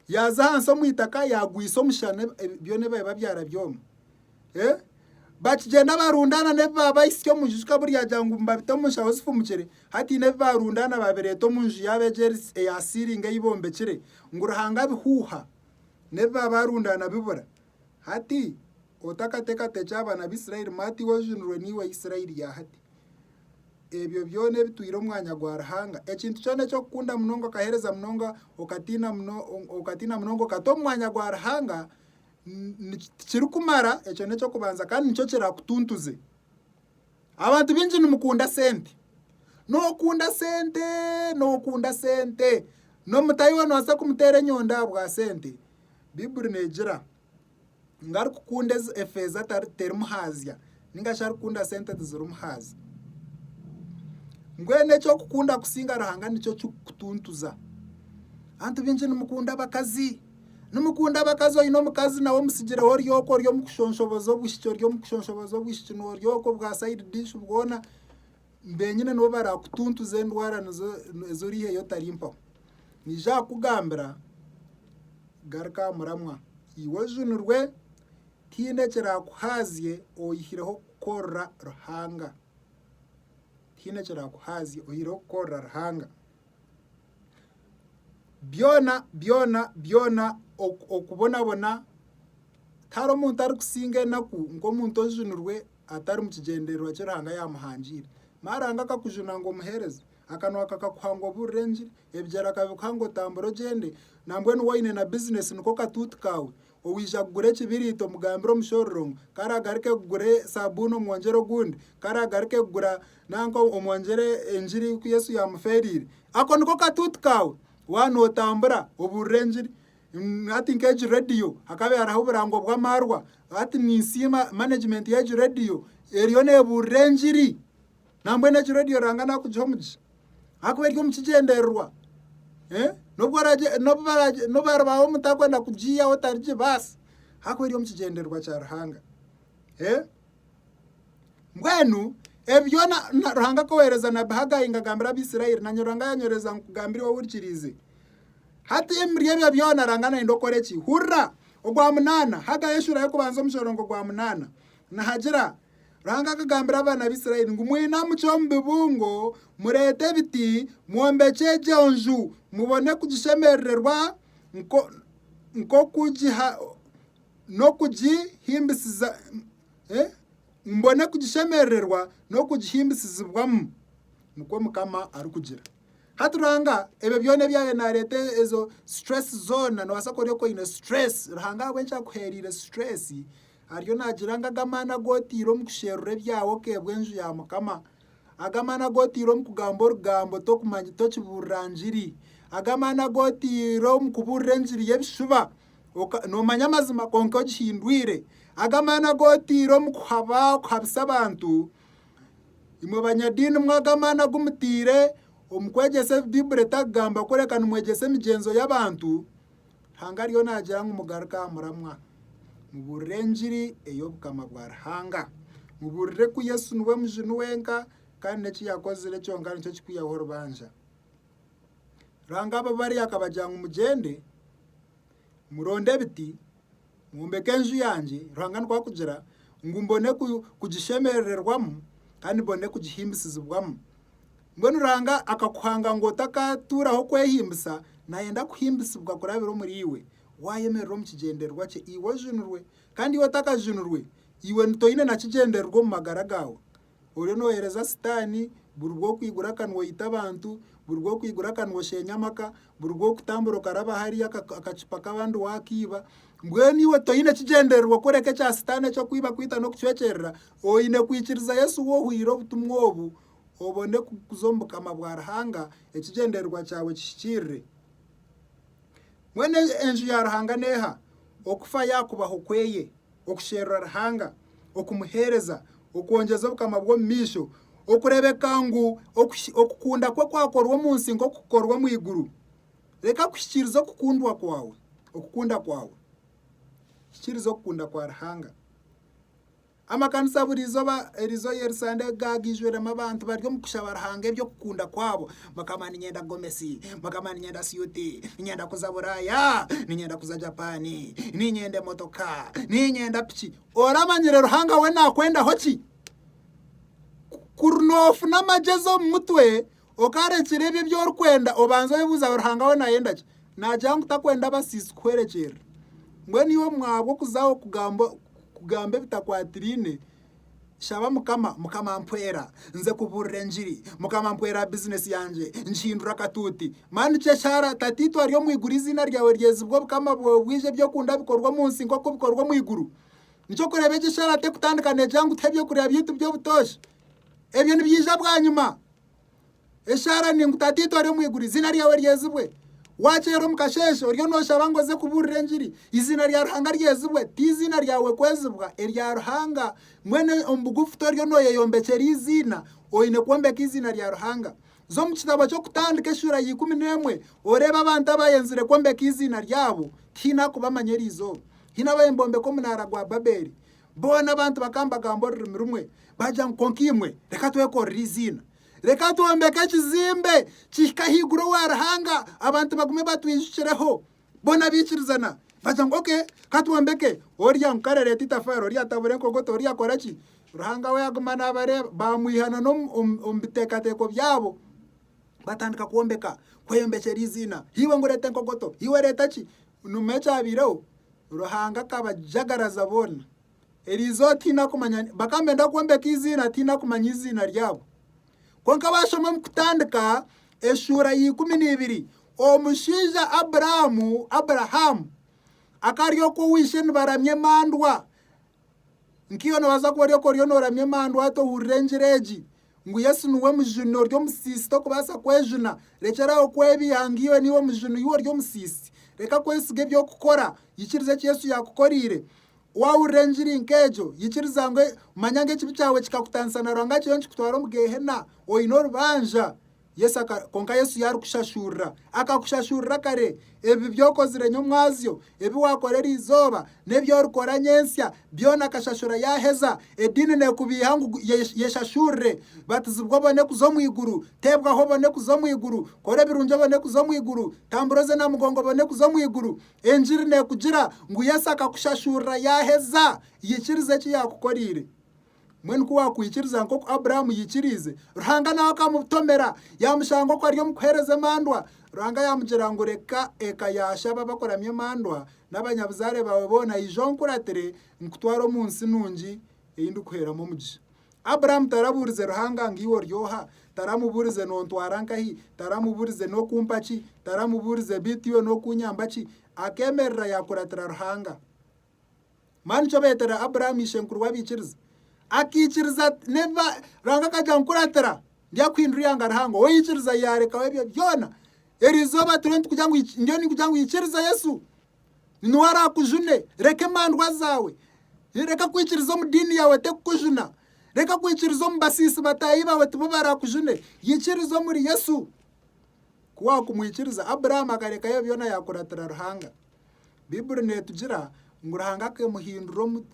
Yaaza ahansi omu itaka yaagwisa omushana byona ebi biba byara byoma. Bakigyenda barundaana n'ebi baaba bahisya omu nju kikaba oryagira ngu nibabita omu nshaho zifumukire, hatiine ebi baarundaana baabireeta omu nju yaabo egyo eya siiringi ei bombekire ngu Ruhanga abihuuha. N'ebi baaba baarundaana bibura. Hati otakateekateekya aha baana ba Isiraeli, maato iwe ojunirwe niiwe Isiraeli ya hati. Ebyo byona ebitwire omwanya gwa Ruhanga, ekintu kyona eky'okukunda munonga okaheereza munonga okatiina okatiina munonga okata omu mwanya gwa Ruhanga tikirikumara ekyo n'eky'okubanza kandi nikyo kirakutuntuze. Abantu baingi nimukunda sente, nookunda sente nookunda sente, n'omutaahi waawe noobaasa kumuteera enyonda ahabwa sente. Baiburi neegira. ngu arikukunda efeeza terimu haazya nainga shi arikukunda sente tizirimu haazya. Mbwenu eky'okukunda kusinga Ruhanga nikyo kirikukutuntuza. Abantu baingi nimukunda abakazi, nimukunda abakazi oine omukazi nawe omutsigireho ori oku ori omu kushonshohoza obwishiki ori omu kushonshohoza obwishiki noori oku bwa sayidi dishi bwona. benyine nibo barakutuntuza endwara nizo ezoriiheyo otari mpaho. Niija akakugambira garuka aha muramwa iwe ojunirwe tihaine ekirakuhaazye oyihireho kukorera Ruhanga. Tihaine ekirakuhaazye oyihireho kukorera Ruhanga. Byona byona byona oku okubonabona tihariho omuntu arikusinga enaku nk'omuntu ojunirwe atari mu kigyendererwa ki Ruhanga yaamuhangiire. Mara Ruhanga akakujuna ngu omuheereze, akanwa kakakuha ngu obuurire engiri, ebigyere akabikuha ngu otambure ogyende, nambwenu waine na bizineesi niko katuuti kaawe, owaija kugura ekibiriiti omugambire omushororo ngu ku araagaruke kugura saabuuni omwongyere ogundi, ku araagaruke kugura nanka omwongyere engiri ku Yesu yaamufeereire. Ako niko katuuti kaawe waaba nootambura obuurire engiri. Hati nk'egi rediyo hakabaire hariho oburango bw'amaarwa. Hati ninsiima manegimenti y'egi rediyo eriyo neebuurira engiri. Nambwenu egi rediyo Ruhanga naakugihe omugisha ahakuba eri omu kigyendererwa. N'obu waaribaaho omuntu arikwenda kugiihaho tarigibaasa ahakuba eri omu kigyendererwa kya Ruhanga. Mbwenu ebi byona Ruhanga ku oweereza nabbi Hagai ngu agambire Abaisraeli, naanye Ruhanga yaanyorereza ngu nkugambire iwe ohurikiriize. Hati emiri ebyo byona ranga nayenda okore ki? Hurira! Ogwa munana, Hagayi eshura y'okubanza omu kyorongo gwa munana, nihagira, Ruhanga akagambira abana ba Israeli ngu mwinamuce omu bibungo, murete ebiti, mwombekye egyo nju, mubone kugishemerererwa n'okugihimbisizibwamu, nikwo mukama arikugira. Hati Ruhanga ebyo byona ebyabaire nareeta ezo stress zoona nobaasa kuba ori oku oine stress Ruhanga ahabw'enki akuhereire stress ariyo nagira ngu ag'amaani agu oteire omu kusherura ebyawe okeebwa enju ya Mukama, ag'amaani agu oteire omu kugamba orugambo tokibuurira ngiri, ag'amaani agu oteire omu kubuurira engiri y'ebishuba noomanya amazima kwonka ogihindwire, ag'amaani agu oteire omu kuhaba okuhabisa abantu Imwe banyadiini mwaga amaani agu mutaire omu kwegyesa ebi Baibuli etarikugamba kureka nimwegyesa emigyenzo y'abantu, Ruhanga ariyo naagira ngu mugaruke aha muramwa. Mubuurire engiri ey'Obukama bwa Ruhanga. Mubuurire ku Yesu niwe mujuni wenka kandi n'eki yaakozire kyonka nikyo kirikwihaho orubanja. Ruhanga abo bari akabagira ngu mugyende, muronde ebiti, Ngwombeke enju yangye, Ruhanga nikwo akugira, ngu mbone kugishemerererwamu kandi mbone kugihimbisizibwamu. Mbwenu Ruhanga akakuhanga ngu otakatuuraho kwehimbisa, nayenda kuhimbisibwa kurabira omuriiwe. Wayemerera omu kigyendererwa kye, iwe ojunirwe. Kandi iwe otakajunirwe, iwe toyine na kigyendererwa omu magara gaawe. Oriyo nohereza sitaani buri rw'okwigura akanwa oyita abantu, buri rw'okwigura akanwa osheenya amaka, buri rw'okutambura okaraba hariya akacupa k'abandi waakaiba. Mbwenu iwe toine kigyendererwa kworeka ekya sitaani eky'okwiba, kwita n'okucwekyerera, oine kwikiriza Yesu ou ohwire obutumwa obu, obone kuza omu bukama bwa Ruhanga ekigyendererwa kyawe kihikirire. Mbwenu enju ya Ruhanga n'eha? Okufa yaakubaho kweye. okusherura Ruhanga, okumuheereza, okwongyeza Obukama bwe omu maisho, okureebeka ngu okukunda kwe kwakorwa omu nsi nk'oku kukorwa omu iguru. Reka kuhikiiriza okukundwa kwawe, okukunda kwawe. Hikiiriza okukunda kwa Ruhanga. Amakanisa buri izooba, erizooba Yerisande gaaga gaijwiremu abantu bari omu kushaba Ruhanga eby'okukunda kwabo. mukama ninyenda gomesi mukama ninyenda siyuti ninyenda kuza buraaya ninyenda kuza japaani ninyenda emotoka ninyenda piki oramanyire ruhanga we nakwendaho ki kuri noofuna amagyezi omu mutwe okarekire ebyo ebi orikwenda obanza oyebuuza ruhanga we nayenda ki nagira ngu takwenda abasiisi kuhwerekyerera mbwenu iwe mwabwo okuzaho kugamba kugamba ebitakwatiraine Shaba Mukama, Mukama mpwera nze kubuurira engiri, Mukama mpwera bizinesi yangye ngihindure akatuuti. Mani kye shara, Tataitwe ari omu iguru eiziina ryawe ryezibwe, obukama bwawe bwije, eby'okunda bikorwe omu nsi nk'oku bikorwa omu iguru. Nikyo kureeba egi eshara tekutandika neegyanga kutuha eby'okurya byaitu by'obutoosha. Ebyo nibiija bwanyima. Eshaara ni ngu, Tataitwe ori omu iguru, eiziina ryawe ryezibwe. Wakyeera omu kasheeshe oriyo nooshaba ngu oze kubuurira engiri, eiziina rya Ruhanga ryezibwe. Ti eiziina ryawe kwezibwa, erya Ruhanga. Mbwenu omu bugufu toriyo nooyeyombekyera eiziina, oine kwombeka eiziina rya Ruhanga. Za omu kitabo ky'Okutandika eshuura ya ikumi n'emwe oreebe abantu abaayenzire kwombeka eiziina ryabo. Ti haine arikubamanya erizooba. Haine abaabaire nibombeka omunaara gwa Babeeli. Boona abantu bakaba nibagamba orurimi rumwe, baagira ngu, Kwonka imwe, reka twekorere eiziina. Reka twombeke ekizimbe kihike ahaiguru owa Ruhanga, abantu bagume batwijukireho. Boona baikirizana, baagira ngu, Okay, ka twombeke. Oria ngu, Kare reeta eitafaari, oria atabura enkogoto, oria akora ki? Ruhanga we aguma naabareeba. Baamwiha na n'omu omu biteekateeko byabo, batandika kwombeka, kweyombekyera eiziina. Iwe ngu reeta enkogoto, iwe reeta ki? Nomu ekyabaireho, Ruhanga akabajagaraza boona. Eriizooba otaine akumanya, bakaba nibenda kwombeka eiziina ataine akumanya eiziina ryabo. Kwonka waashoma omu kutandika eshuura ya ikumi neibiri, omushaija Aburaamu, Abrahamu, akaba ari oku owa ishe nibaramya emandwa. Nkaiwe noobaasa kuba ori oku oriyo nooramya emandwa tohurira engira egi, ngu Yesu niwe Mujuni ori omusiisi tokubaasa kwejuna. Rekyera aho kwebiiha ngu iwe niiwe Mujuni yu ori omusiisi. Reka kwesiga eby'okukora. Yikiriza eki Yesu yaakukoreire. Waahurira engiri nk'egyo, yikiriza ngu manya ngu ekibi kyawe kikakutaanisa na Ruhanga kiriyo nikikutwara omu Geehena. Oine orubanja. Yesu aka, konka Yesu yaarikushashurira. Akakushashurira kare. Ebi by'okozire nyomwazyo, ebi waakora eri izooba, n'ebi orikora nyentsya, byona akashashura yaaheza. Ediini neekubeiha ngu yeshashurire. Batizibwa obone kuza omu iguru. Teebwaho obone kuza omu iguru. Kora ebirungi obone kuza omu iguru. Tambura oze na mugongo obone kuza omu iguru. Engiri neekugira ngu Yesu akakushashurira yaaheza. Ikiriza eki yaakukoreire. Mbwenu ku waakwikiriza nk'oku Abrahamu yaikiriize, Ruhanga nawe akamutomera, yaamushanga oku ari omu kuheereza emandwa. Ruhanga yaamugira ngu, Reka eka ya shaba abakuramya emandwa n'abanyabuzaare baawe boona, ija onkuratire, nkutware omu nsi nungi ei ndikukuheeramu omugisha. Abrahamu tarabuurize Ruhanga ngu, Iwe ori oha? Taramubuurize, Noontwara nkahi? Taramubuurize, Nookumpa ki? Taramubuurize, Beitu iwe nookunyamba ki? Akeemerera yaakuratira Ruhanga. Mani nikyo beetera Abrahamu ishenkuru w'abaikiriza. Akaikiriza ati, Neba, Ruhanga akagira ngu kuratira, ndyakuhindura ihanga rihango. Owaikiriza yaarekaho ebyo byona. Eri izooba turiho nitukugira ngu iki- ndiyo nikugira ngu ikiriza Yesu. Ni niwe araakujune. Reka emandwa zaawe. Reka kwikiriza omu diini yaawe tekukujuna. Reka kwikiriza omu basiisi bataahi baawe tibo baraakujune. Ikiriza omuri Yesu. Ku waakumwikiriza, Abrahamu akarekayo ebyo byona yaakuratira Ruhanga. Baibuli neetugira ngu Ruhanga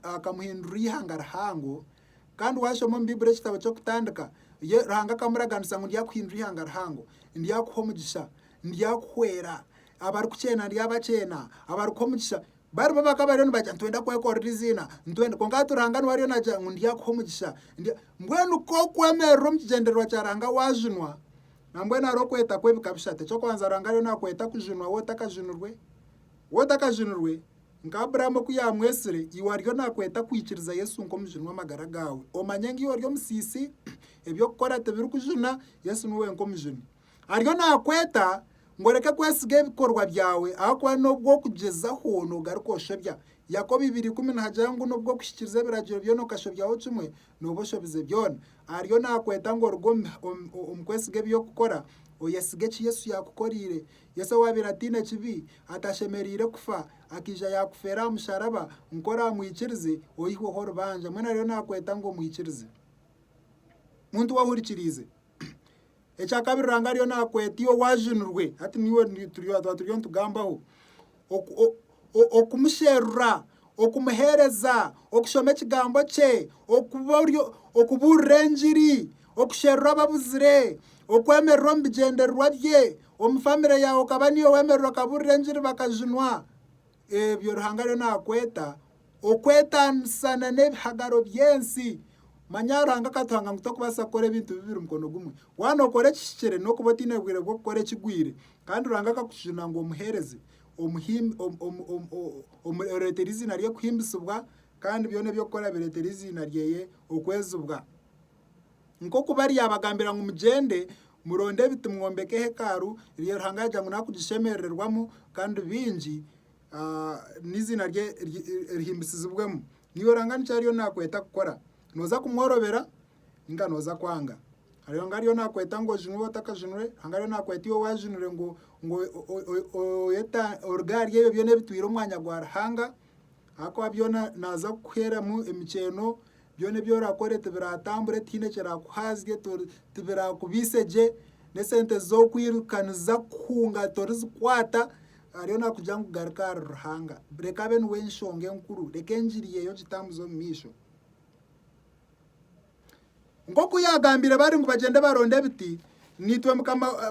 akamuhindurira eihanga rihango. Kandi waashoma omu Baibuli ekitabo ky'Okutandika, Ruhanga akamuraganisa ngu ndyakuhindura eihanga rihango, ndyakuha omugisha, ndyakuhwera, abarikukyenda ndyabakyenda, abarikuha omugisha baribo abakaba bariyo nibagira ngu nitwenda kwekorera eiziina, kwonka hati Ruhanga niwe ariyo naagira ngu ndyakuha omugisha. Mbwenu ku orikwemerera omu kigyendererwa kya Ruhanga waajunwa, Nambwenu hariho okweta kw'ebika bishatu. Eky'okubanza Ruhanga ariyo naakweta kujunwa we otakajunirwe. We otakajunirwe, nka Abrahamu oku yaamwetsire, iwe ariyo naakweta kwikiriza Yesu nk'Omujuni w'amagara gaawe. Omanye ngu iwe ori omusiisi, eby'okukora tibirikujuna, Yesu niwe wenka Omujuni. Ariyo naakweta ngu oreke kwesiga ebikorwa byawe ahakuba n'obu orikugyezaho noogaruka oshobya. Yakobo ibiri ikumi nihagira ngu n'obu orikuhikiiriza ebiragiro byona okashobyaho kimwe, Nooba oshobize byona. Ariyo naakweta ngu oruge omu kwesiga eby'okukora, oyesige eki Yesu yaakukoreire. Yesu owaabaire ataine kibi, atashemereire kufa, akaija yaakufeera aha musharaba ngu ku oraamwikirize oihweho orubanja. Mbwenu ariyo naakweta ngu omwikirize. Muntu we ohurikiriize, Ekya kabiri Ruhanga ariyo nakweta iwe waajunirwe, hati niiwe twaba turiyo nitugambaho, okumusherura, okumuheereza, okushoma ekigambo kye, okubuurira engiri, okusherura ababuzire, okwemerera omu bigyendererwa bye, omu famire yaawe okaba niiwe wemerera okabuurira engiri bakajunwa. ebyo Ruhanga ariyo naakweta okwetaanisana n'ebihagaro by'ensi. Manya Ruhanga akatuhanga ngu torikubaasa kukora ebintu bibiri mukono gumwe. Waaba nookora ekihikire n'okuba otaine bwire bw'okukora ekigwire. Kandi Ruhanga akakujuna ngu omuheereze, oreetere eiziina rye kuhimbisibwa kandi byona ebi orikukora bireetere eiziina rye okwezibwa. Nk'oku baryabagambira ngu, Mugyende, muronde ebiti mwombeke hekalu rya Ruhanga yagira ngu naakugishemerererwamu kandi baingi n'eiziina rye rihimbisizibwemu. Naiwe Ruhanga niki ariyo naakweta kukora? Nooza kumworobera nainga nooza kwanga? Ruhanga ariyo naakweta ngu ojunwe oba otakajunwe? Ruhanga ariyo naakweta iwe waajunire ngu oruge ahari ebyo byona ebitwire omwanya gwa Ruhanga? Ahakuba byona naaza kukuheeramu emikyeeno Byona ebi orakore tibiraatambure, tihaine ekiraakuhaazye, tibiraakubaise gye, n'esente z'okwirukaniza kuhunga torizikwata, hariyo naakugira ngu garuka ahari Ruhanga. Reka abe niwe nshonga enkuru, reka engiri ye ogitambuze omu maisho. Nk'oku yaagambiire bari ngu bagyende baronde ebiti, naitwe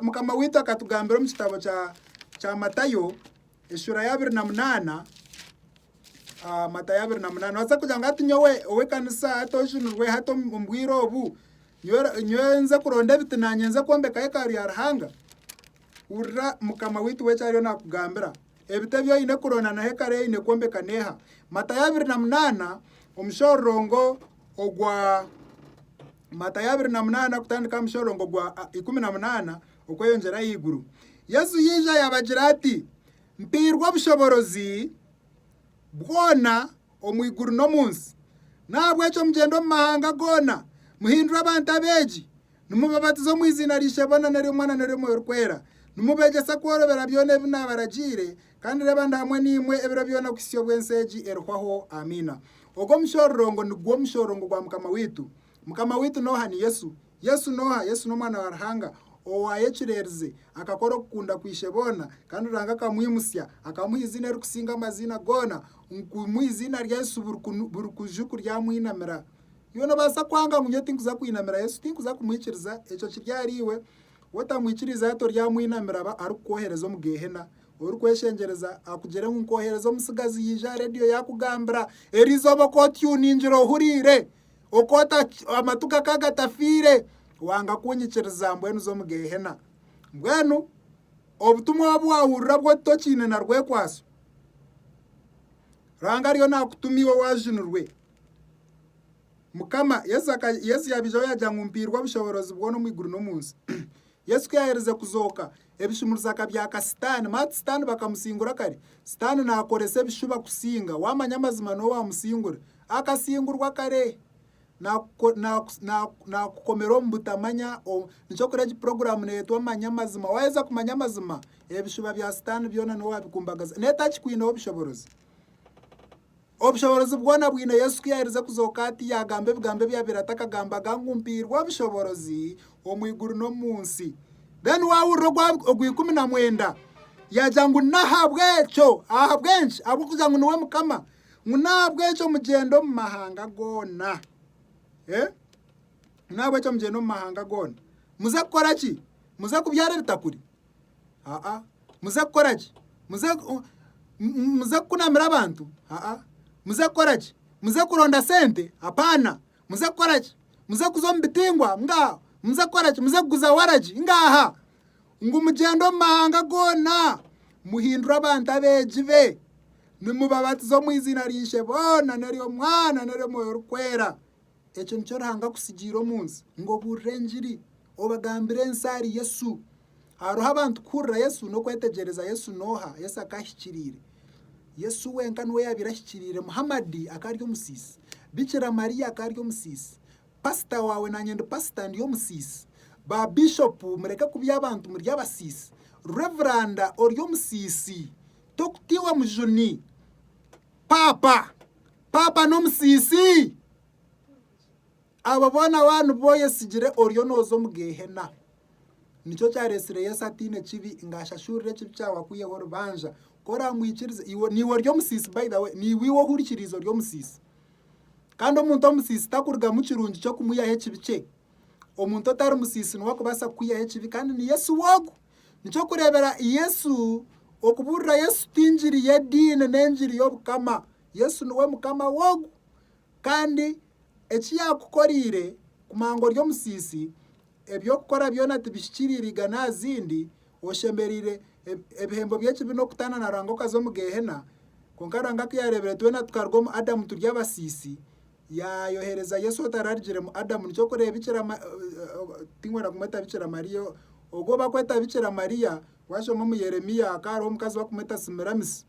Mukama waitu akatugambira omu kitabo kya Matayo, Eshuura ya abiri na munaana ah, Matayo abiri na munaana waza kugira ngu hati nyowe ow'ekanisa hati ojunirwe hati omu omu bwire obu nyowe nyowe nze kuronda ebiti nanye nze kwombeka yekaru ya Ruhanga hurira mukama waitu we ekyariyo nakugambira ebiti ebi oine kuronda na hekaru eyi oine kwombeka neha Matayo abiri na munaana omushororongo ogwa Matayo abiri na munaana kutandika aha mushororongo gwa ah, ikumi na munaana Okweyongyera ahaiguru. Yesu yaija yaabagira ati, Mpairwe obushoboorozi bwona omu iguru n'omu nsi. N'ahabw'ekyo mugyende omu mahanga goona, muhindure abantu abeegi, nimubabatiza omu iziina ry'Ishebo na n'ery'Omwana na n'ery'Omwoyo Orikwera, nimubeegyesa kworobera byona ebi naabaragiire, kandi reeba ndi hamwe naimwe ebiro byona kuhitsya obu ensi egi erihwaho. Amiina. Ogwo mushororongo nigwo mushororongo gwa Mukama waitu. Mukama waitu n'oha? Ni Yesu. Yesu n'oha? Yesu n'Omwana wa Ruhanga owaayo ekireerize, akakora okukunda kwa Isheboona, kandi Ruhanga akamwimutsya, akamuha eiziina erikusinga amaziina goona, ngu omu eiziina rya Yesu buri kunu buri kuju kuryamwinamira. Iwe noobaasa kwanga ngu nyowe tinkuza kwinamira Yesu, tinkuza kumwikiriza, ekyo kiri ahari iwe. Wootamwikiriize hati oryamwinamira aba arikukwohereza omu Geehena. Orikweshengyereza akugire ngu nkoohereza omutsigazi yaija aha reediyo yaakugambira, Erizooba okootyuningira ohuriire! Amatu gakaba gatafiire wanga kunyikiriza mbwenu za omu Geehena. Mbwenu obutumwa obu waahurira bw'otu tokiine na rwekwaso, Ruhanga ariyo naakutuma iwe waajunirwe. Mukama, Yesu Yesu yaabaijaho yaagira ngu, Mpairwe obushoboorozi bwona omu iguru n'omu nsi. Yesu ku yaaherize kuzooka, Ebishumuruza akabyaka sitaani mati sitaani bakamusingura kare. Sitaani naakoresa ebishuba kusinga. Waamanya amazima niwe waamusingura. Akasingurwa kare. Naakukomera omu butamanya. Nikyo kuri egi puroguraamu neetwa manya amazima. Waaheza kumanya amazima, ebishuba bya sitaani byona niwe waabikumbagaza. N'etakikwineho bushoborozi. Obushoboorozi bwona bwine Yesu ku yaaherize kuzooka ati yaagamba ebigambo ebyabaire atakagambaga ngu, Mpairwe obushoboorozi omu iguru n'omu nsi. Then waahurira ogwa ogwa ikumi na mwenda yaagira ngu, N'ahabw'ekyo, ahabw'enki? Ahabw'okugira ngu niwe Mukama. Ngu n'ahabw'ekyo mugyende omu mahanga goona. Eh? N'ahabw'ekyo mugyende omu mahanga goona. Muze kukora ki? Muze kubyara ebitakuri? aa muze kukora ki muze muze kukunamira abantu aa muze kukora ki muze kuronda sente apaana muze kukora ki muze kuza omu bitingwa ngaha muze kukora ki muze kuguza waragi ngaha ngu mugyende omu mahanga goona muhindure abantu abeegi be nimubabatiza omu iziina rya Ishe boona n'ery'Omwana n'ery'Omwoyo Orikwera. Ekyo nikyo Ruhanga akutsigiire omu nsi, ngu obuurire engiri, obagambire ensi ahari Yesu. Hariho abantu kuhurira Yesu n'okwetegyereza Yesu n'oha Yesu akaahikiriire. Yesu wenka niwe yaabaire ahikiriire. Muhamadi akaari omusiisi. Bikira Mariya akaari omusiisi. Pasita waawe naanye ndi pasita ndi omusiisi. Ba Bishopu mureke kubya abantu muri abasiisi. Reveranda ori omusiisi. Tokutiihwa mujuni. Paapa. Paapa n'omusiisi? Abo boona waaba nibo oyesigire oriyo nooza omu Geehena. Nikyo kyaretsire Yesu ataine kibi ngu ashashurire ekibi kyawe akwiheho orubanja. Ku oraamwikiriza, niiwe ori omusiisi by the way, niiwe iwe ohurikiriize ori omusiisi. Kandi omuntu omusiisi takurugamu kirungi ky'okumwihaho ekibi kye. Omuntu otari musiisi niwe akubaasa kukwihaho ekibi kandi ni Yesu we ogu. Nikyo kureebera Yesu, okubuurira Yesu ti engiri y'ediini n'engiri y'obukama. Yesu niwe mukama w'ogu. Kandi eki yaakukoreire kumanya ngu ori omusiisi, eby'okukora byona tibihikiriire igana aha zindi, oshemereire ebihembo by'ekibi n'okutaana na Ruhanga okaza omu Geehena. Kwonka Ruhanga ku yaareebire twena tukaruga omu Adamu turi abasiisi, yaayohereza Yesu otararugiremu Adamu. Nikyo orikureeba Bikira tinkwenda kumweta Bikira Mariya, ogwo barikweta Bikira Mariya waashoma omu Yeremia hakaba hariho omukazi barikumweta Simiramisi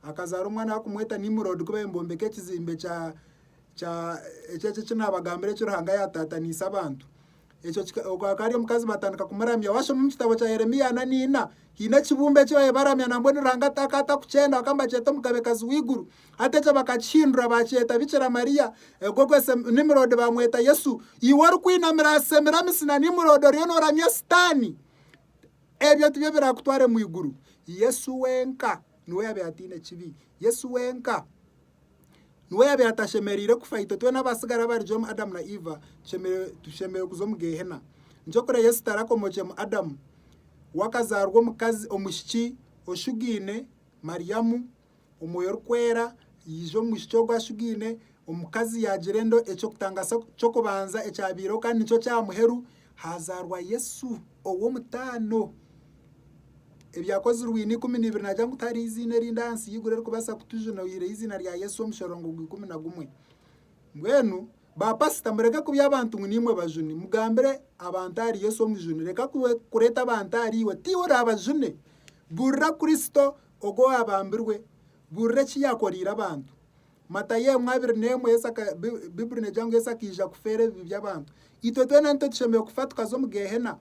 akazaara omwana barikumweta Nimuroodi ku baabaire nibombeka ekizimbe kya kya ekyo eki naabagambira eki Ruhanga yaataataniise abantu. Ekyo kika, ogu akaba ari omukazi batandika kumuramya. Washoma omu kitabo kya Yeremia ana n'ina, haine ekibumbe eki babaire baramya na mbwenu Ruhanga ata- akaba atakukyenda, bakaba nibakyeta omugabekazi w'eiguru. Hati ekyo bakakihindura bakyeta Bikira Maria. Ogwo gwe Sem- Nimurodi bamweta Yesu. Iwe orikwinamira aha Semiramisi na Nimurodi oriyo noramya Sitaani, ebyo tibyo birakutware mu iguru. Yesu wenka niwe oyaabaire ataine kibi. Yesu wenka. Niwe yaabaire atashemereire kufa. Itwe twena abatsigara abarigye omu Adamu na Iva tushemereire kuza omu Geehena. Nikyo kureba Yesu tarakomokyemu Adamu, we akazaarwa omukazi, omwishiki oshugaine, Mariamu, omwoyo orikwera yaija omu mwishiki ogwo ashugaine, omukazi yaagira enda eky'okutangasa ky'okubanza ekyabaireho kandi nikyo kya muheru. Haazaarwa Yesu ow'omutaano. Ebyakozirwe ina ikumi n'ibiri naagira ngu tihariho eiziina erindi ahansi y'eiguru erikubaasa kutujuna oyihireho eiziina rya Yesu omushorongo gwa ikumi na gumwe. Mbwenu baapasita mureke kubya abantu ngu naimwe bajuni. Mugambire abantu ahari Yesu omujuni. Reka kureeta abantu ahari iwe. Tiiwe oraabajune. Buurira Kristo ogu owaabambirwe. Buurira eki yaakoreire abantu. Matayo emwe abiri n'emwe Yesu aka, Bibuli negira ngu Yesu akaija kufeera ebibi by'abantu. Itwe twena nitwe tushemereire kufa tukaza omu Geehena.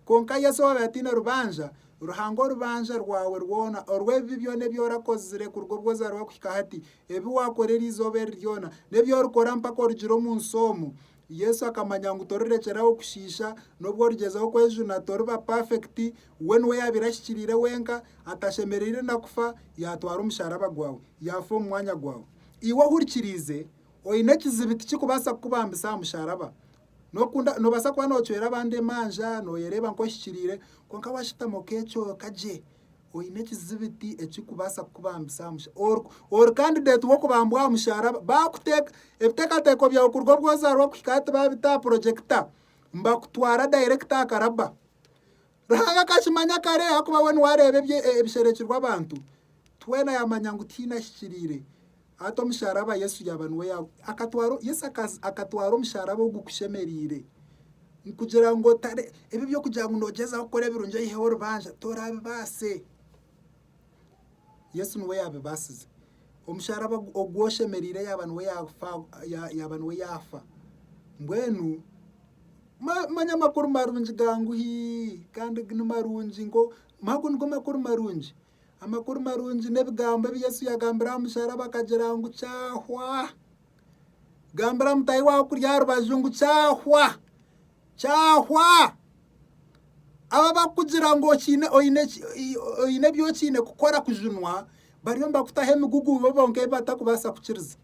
Kwonka Yesu owaabaire ataine rubanja, Ruhanga orubanja rwawe rwona orw'ebibi byona ebi orakozire kuruga obu wazaarwa kuhika hati, ebi waakora eri izooba eri ryona, n'ebi orikora mpaka orugire omu nsi omu, Yesu akamanya ngu torirekyera aho kushiisha. N'obu origyezaho kwejuna, toriba pafekiti. We niwe yaabaire ashikiriire wenka, atashemereire na kufa, yaatwara omusharaba gwawe, yaafa omu mwanya gwawe. Iwe ohurikiriize oine ekizibi tikirikubaasa kukubambisa aha musharaba. N'okunda, noobaasa kuba noocwera abandi emanja, nooyereeba nk'ohikiriire, kwonka waashutama okecweka gye. Oine ekizibiti ekirikubaasa kukubambisa aha mushaaraba? Ori kandideeti w'okubambwa aha mushaaraba? Baakuteeka ebiteekateeko byawe kuruga obu ozaarwa kuhika hati baabita aha purojekita, nibakutwara dayirekiti aha karabba. Ruhanga akakimanya kare ahakuba we niwe areeba ebisherekirwe abantu. Twena yaamanya ngu tihaine ahikiriire. Ata omusharaba Yesu yaaba niwe akatwara Yesu akatwara omusharaba ogu kushemereire kugira ngu otare ebi eby'okugira ngu noogyezaho kukora ebirungi oyiheho orubanja toraabibaase. Yesu niwe yaabibaasize. Omusharaba ogu oshemereire yaaba niwe yaafa yaaba niwe yaafa. Mbwenu manya amakuru marungi ga ngu hii kandi ni marungi nigo ago nigo makuru marungi. Amakuru marungi n'ebigambo ebi Yesu yagambire aha musharaba akagira ngu kyahwa. Gambira mutahi waawe okuri aha rubaju ngu kyahwa. Kyahwa. Aba abakugira ngu okiine oine oine ebi okiine kukora kujunwa bariyo nibakutaho emigugu bo bonka ebi batakubaasa kukiriza.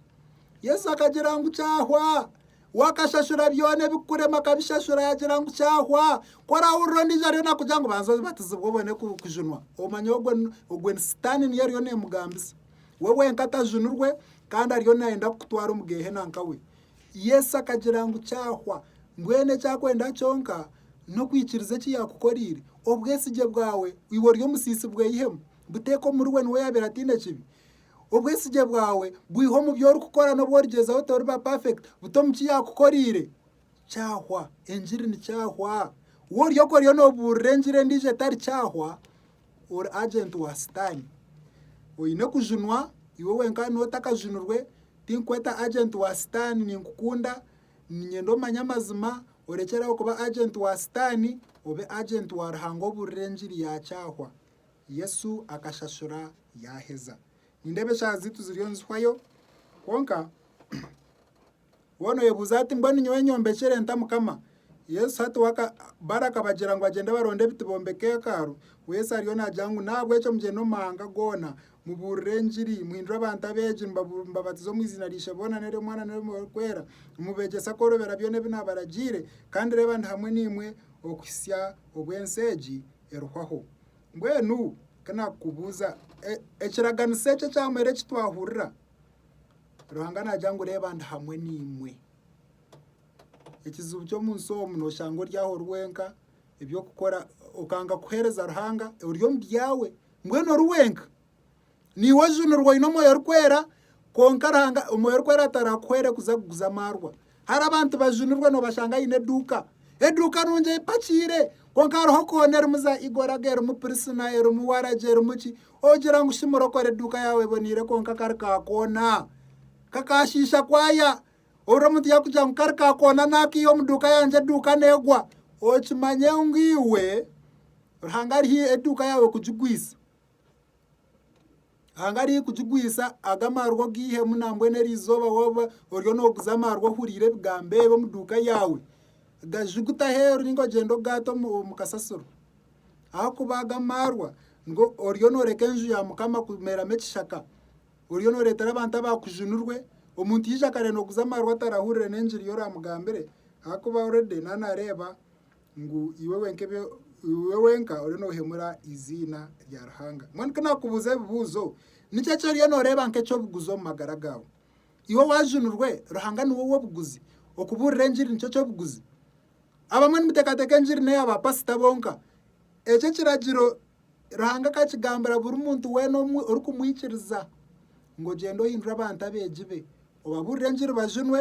Yesu akagira ngu kyahwa. We akashashura byona ebikukurema akabishashura yagira ngu kyahwa ku orahurira ondiijo ariyo nakugira ngu banza obatizibwe obone kujunwa omanya ogwo ogwo ni sitaani niyo eriyo nemugambisa we wenka tajunirwe kandi ariyo nayenda kukutwara omu geehena nkawe Yesu akagira ngu kyahwa mbwenu ekyakwenda kyonka n'okwikiriza eki yaakukoreire obwesigye bwawe iwe ori omusiisi bweyihemu buteeka omuriwe niwe yaabaire ataine kibi Obwesigye bwawe bwiha omu bi orikukora n'obu origyezaho toriba perfect buta omu ki yaakukoreire. Kyahwa, engiri ni kyahwa. Wa oryoka oriyo noobuurira engiri endiijo etari kyahwa, ori agenti wa Sitaane. Oine kujunwa iwe wenka na otakajunirwe, tinkukweta agenti wa Sitaane, ninkukunda, niinyenda omanye amazima, orekyere aho kuba agenti wa Sitaane, obe agenti wa Ruhanga obuurire engiri ya kyahwa. Yesu akashashura yaaheza. Nindeeba eshaaha zaitu ziriyo nizihwayo kwonka woona oyebuuza ati mbwenu nyowe nyombekyere nta Mukama? Yesu hati barakabagira ngu bagyende baronde ebiti bombeke hekalu, Yesu ariyo naagira ngu nahabwekyo mugyende omu mahanga goona mubuurire engiri, muhindure abantu abeegi mubabatize omu iziina ry'Ishebo na n'ery'Omwana na n'ery'omwoyo gurikwera, mubegyese kworobera byona ebi naabaragiire, kandi reeba ndi hamwe naimwe okuhitsya obw'ensi egi. erihwaho. Mbwenu ka naakubuuza, ekiraganiso eki ekyamara eki twahurira, Ruhanga naagira ngu reeba ndi hamwe naimwe. Ekizibu ky'omu nsi omu nooshanga ori aho ori wenka, eby'okukora okanga kuheereza Ruhanga ori omu byawe, mbwenu ori wenka. Niiwe ojunirwe oine Omwoyo Orikwera kwonka Ruhanga Omwoyo Orikwera atarakuhwere kuza kuguza amaarwa. Hara abantu bajunirwe noobashanga aine eduuka. Eduuka nungi epakiire kwonka hariho koona erimu za Igoraga, erimu Pirisina, erimu Waragi, erimu ki. Ogira ngu shi murokore eduuka yaawe eboneire kwonka kari ka koona. Kakaashiisha kwaya. Obiro omuntu yaakugira ngu kari ka koona naakiiha omu duuka yangye eduuka neegwa. Okimanye ngu iwe Ruhanga ari haihi eduuka yaawe kugigwisa. Hanga arikugigwisa ago amaarwa ogiihemu nambwenu erizooba waaba oriyo nooguza amaarwa ohuriire ebigambo ebi omu duuka yaawe, gajuguta aheeru ninga ogyende ogaate omu kasasiro. Ahakuba ago amaarwa nigo oriyo nooreka enju ya Mukama kumeeramu ekishaka. Oriyo nooreetera abantu abaakujunirwe, omuntu yaija akareeba nooguza amaarwa atarahurire n'engiri ei oraamugambire ahakuba oredi nawe naareeba Ngu iwe wenka ebi iwe wenka oriyo noohemura eiziina rya Ruhanga. Mbwenu ku naakubuuza ebibuuzo, niki eki oriyo nooreeba nk'eky'obuguzi omu magara gaawe? Iwe waajunirwe, Ruhanga niwe ow'obuguzi, okubuurira engiri nikyo ky'obuguzi. Abamwe nimuteekateeka engiri n'eya baapasita bonka. Ekyo ekiragiro Ruhanga akakigambira buri muntu weena omwe orikumwikiriza ngu ogyende ohindure abantu abeegi be, obabuurire engiri bajunwe,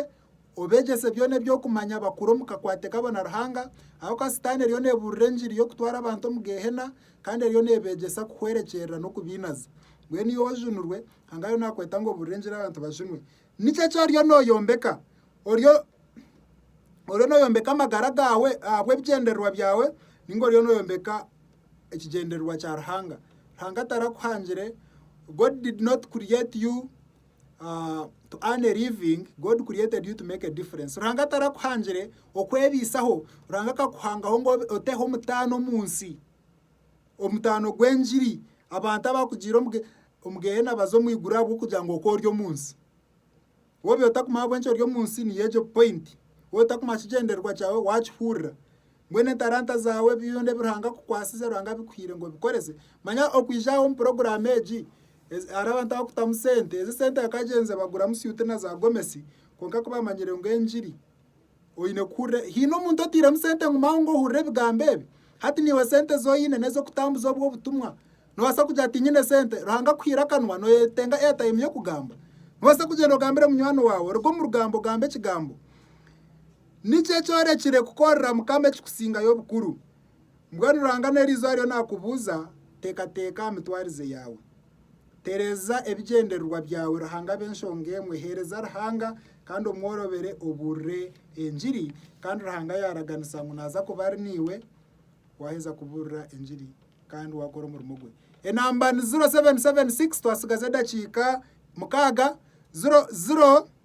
Obeegyese byona eby'okumanya bakure omu kakwate kabo na Ruhanga, ahakuba Sitaane eriyo neebuurira engiri y'okutwara abantu omu Geehena kandi eriyo neebeegyesa kuhwerekyerera n'okubainaza. Mbwenu iwe ojunirwe, Ruhanga ariyo naakweta ngu obuurire engiri abantu bajunwe. Niki eki oriyo nooyombeka? Oriyo oriyo nooyombeka amagara gaawe ahabw'ebigyendererwa byawe nainga oriyo nooyombeka ekigyendererwa kya Ruhanga? Ruhanga tarakuhangire, God did not create you ah, to earn a living, God created you to make a difference. Ruhanga tarakuhangire okwebiisaho, Ruhanga akakuhangaho ngu obe- oteho omutaano omu nsi. Omutaano gw'engiri, abantu abakugiire omu ge- omu geena baze omu iguru ahabw'okugira ngu oku ori omu nsi. Wobiire otakumanya ahabw'enki ori omu nsi, niyo egyo point. Wobiire otakumanya kigyendererwa kyawe, waakihurira. Mbwenu entaranta zaawe byona ebi Ruhanga akukwasize, Ruhanga abikuhaire ngu obikorese, manya okwija aha omu puroguraamu egi, hariho abantu abakutamu sente, ezi sente bakagyenze baguramu syuuti na zaagomesi, kwonka ku baamanyire ngu engiri oine kuhurira, haine omuntu oteiremu sente ngu maawe ngu ohurire ebigambo ebi, hati niiwe sente ezi oine n'ez'okutambuza obwo obutumwa, noobaasa kugira ngu tiinyine sente, Ruhanga akuhaire akanwa nooyetenga airtime y'okugamba, noobaasa kugyenda ogambire munywani waawe, oruga omu rugambo ogambe ekigambo. Niki ekyorekire kukorera Mukama ekikusingayo obukuru? Mbwenu Ruhanga n'erizooba ariyo naakubuuza, Teekateeka aha mitwarize yaawe. Tereeza ebigyendererwa byawe Ruhanga abe enshonga emwe. Heereza Ruhanga kandi omworobere obuurire engiri kandi Ruhanga yaaraganisa ngu naaza kuba ari naiwe waaheza kubuurira engiri kandi waakora omurimo gwe. Enamba ni ziro seveni seveni sikisi, twatsigaza edakiika mukaaga, ziro ziro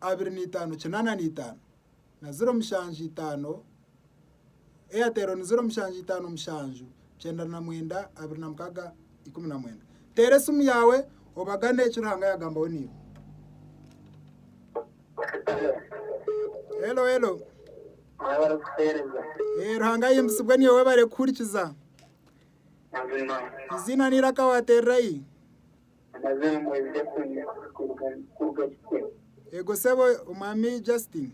abiri na itaano kinaana na itaano na ziro mushanju itaano, Airtel ni ziro mushanju itaano mushanju kyenda na mwenda abiri na mukaaga ikumi na mwenda. Teera esimu yaawe obagane eki Ruhanga yaagambaho naiwe. Helo helo. Mwebare kutuheereza. Eh, Ruhanga ayimbisibwe niwe webare kuhurikiza. Mazima. Eiziina n'eiraka waateererayi. Amazima mwebije kunywa kuruga kuruga kikwe. Ego sebo omwami Justin.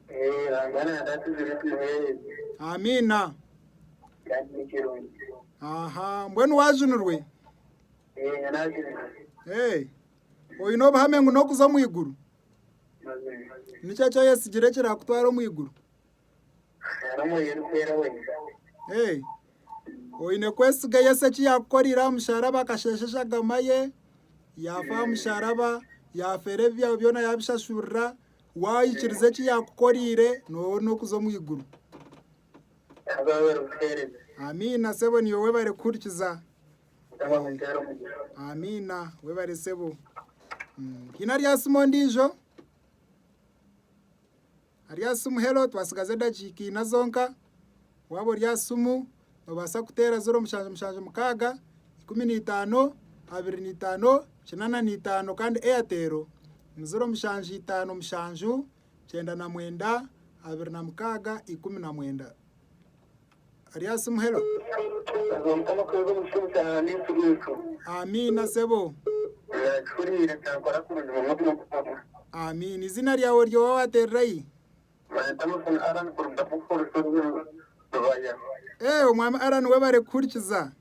Eh, Ranga nanda atuzire tumuhereze. Amiina. Kandi ni kirungi. Aha, mbwenu wajunirwe? Eh, nyo najunirwe. Eh, oyine obuhame ngu n'okuza omu iguru? Mazima. Niki eki oyetsigire ekirakutwara omu iguru? Hariho omwoyo orikwera wenka. Ee. Oine kwesiga Yesu eki yaakukorire aha musharaba akasheesha eshagama ye, yaafa aha musharaba, yaafera ebibi byawe byona yaabishashurira, waikiriza eki yaakukoreire nooba ori n'okuza omu iguru. Haza waaba ori buheereza. Amiina sebo niiwe webare kuhurikiza. Mukama akuteere omugisha. Amiina webare sebo. Mm, Hiine aryasima ondiijo? Ari aha simu, Helo, twatsigaza edakiika ina zonka. Waaba ori aha simu, noobaasa kuteera ziro mushanju mushanju mukaaga, ikumi na itaano, abiri na itaano, kinaana na itaano kandi Airtel ni ziro mushanju itaano mushanju kyenda na mwenda abiri na mukaaga ikumi na mwenda. Ari aasi muhero. Amiina sebo. Amiina. Izina ryawe ryoba watererayi? Ee omwami Allan webare kuhurikiza.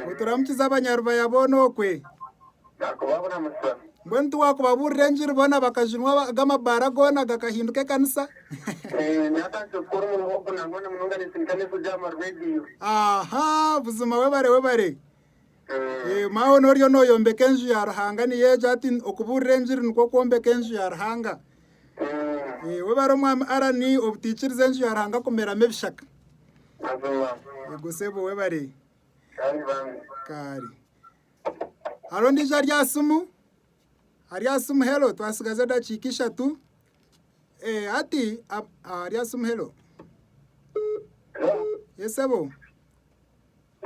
Nituramukiza Abanyarubaya boona okwe. Mbwenu tiwakubabuurira engiri boona bakajunwa aba- aga amabaara goona gakahinduka ekanisa. Aha, buzima webare webare. Eh, Mawe noriyo noyombeka enju ya Ruhanga niyo egyo ati okubuurira engiri nikwo kwombeka enju ya Ruhanga. Eh, webare omwami Arani obutaikiriza enju ya Ruhanga kumeramu ebishaka. Mazima. Yego sebo webare. Kaari bambi. Kaari. Hariho ondiijo ari aha simu? Ari aha simu helo twatsigaza edakiika ishatu. Eh, hati ab- ah, ari aha simu helo. Ye sebo.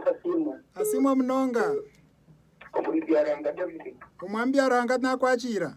Asiimwe. Asiimwe munonga. Omuri byaranga David. Omwami Byaranga nakwakiira.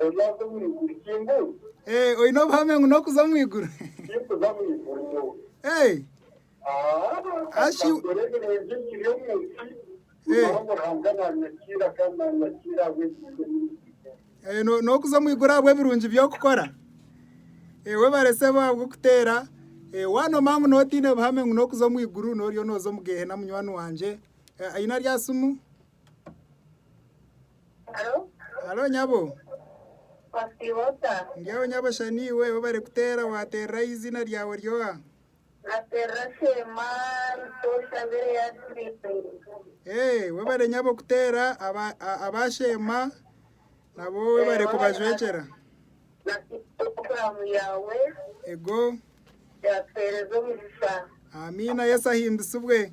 Oryaza omu iguru ki ngu? Eeh oine obuhame ngu n'okuza omu iguru? Tikuza omu iguru nyowe. Eeh. Aah Ashi. Nkakora ebirungi nkiri omu nsi. Eeh. Nyowe Ruhanga nanyakiira kandi nanyakiira ahabw'ebirungi ebi ndikukora. Eeh no n'okuza omu iguru ahabw'ebirungi by'okukora? Eeh webare sebo ahabw'okuteera. Eeh wanoma ngu n'otiine buhame ngu n'okuza omu iguru noriyo noza omu geehena munywani wangye. Aine aryatsimu? Haro, Halo nyabo. wasiiba ota? Ndyaho nyabo shani iwe obu barikuteera waateereraho eiziina ryawe ry'oha? Nateerera Sheema Nshooshabire Yasmini. Ee, webare nyabo kuteera aba a- aba Sheema nabo webare kubajwekyera. Nasiima puroguraamu yaawe Ego. yaatuheereza omugisha. Amiina Yesu ahimbisibwe.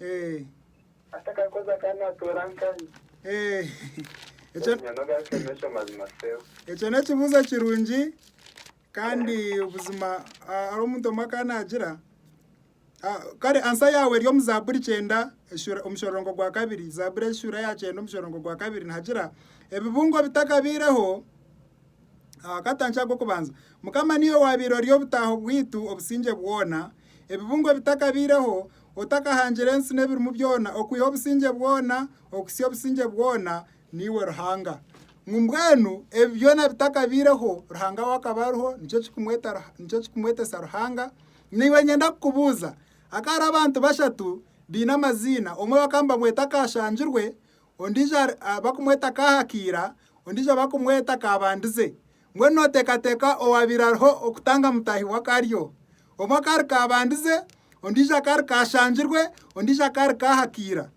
Eh. Atakakoza akaba natoora nkanye. Eh. Ekyo Obunyani obwashemesha amazima Sebo. ekyo n'ekibuuzo kirungi kandi obuzima ah, hariho omuntu omwe akaba naagira ah, kare ansa yaawe eri omu zaaburi kyenda eshura- omushororongo gwa kabiri zaaburi eshura ya kyenda omushororongo gwa kabiri nihagira ebibungo bitakabaireho Aha katangi ak'okubanza, Mukama niiwe waabaire ori obutaaho bwaitu obusingye bwona. Ebibungo bitakabaireho, otakahangire ensi n'ebirimu byona, okwiha obusingye bwona okuhitsya obusingye bwona, niiwe Ruhanga. Ngu mbwenu ebi byona bitakabaireho, Ruhanga we akaba ariho, nikyo kirikumweta nikyo kirikumwetesa Ruhanga. Naiwe nyenda kukubuuza, Akahariho abantu bashatu baine amaziina, omwe bakaba nibamweta Kaashangirwe, ondiijo barikumweta Kaahakiira, ondiijo barikumweta Kaabandize. Mbwenu nooteekateeka owaabaire ariho okutanga mutaahi we akaba ari ou? Omwe akaba ari Kaabandize, ondiijo akaba ari Kaashangirwe, ondiijo akaba ari Kaahakiira.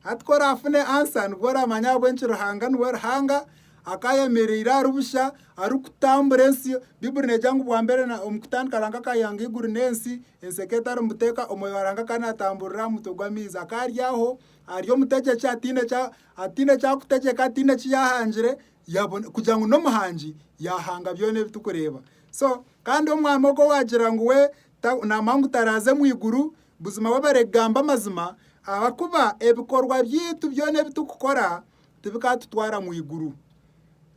Hati ku oraafune ansa nibwo oraamanya ahabw'enki Ruhanga niwe Ruhanga akaba ayemereire ari busha arikutambura ensi. Baiburi neegira ngu bwambere omu kutandika Ruhanga akaba yaayanga eiguru n'ensi, ensi ekaba etarimu buteeka, omwoyo wa Ruhanga akaba naatamburira aha mutwe gw'amaizi. Akaba ari aho Ari omutegyeki ataine eki arikutegyeka, ataine eki yaahangire kugira ngu n'omuhangi yaahanga byona ebi turikureeba. So kandi omwami ogwo waagira ngu we naamanya ngu taraaze omu iguru, buzima we abarege kugamba amazima ahakuba ebikorwa byaitu byona ebi turikukora tibikatutwara mu iguru.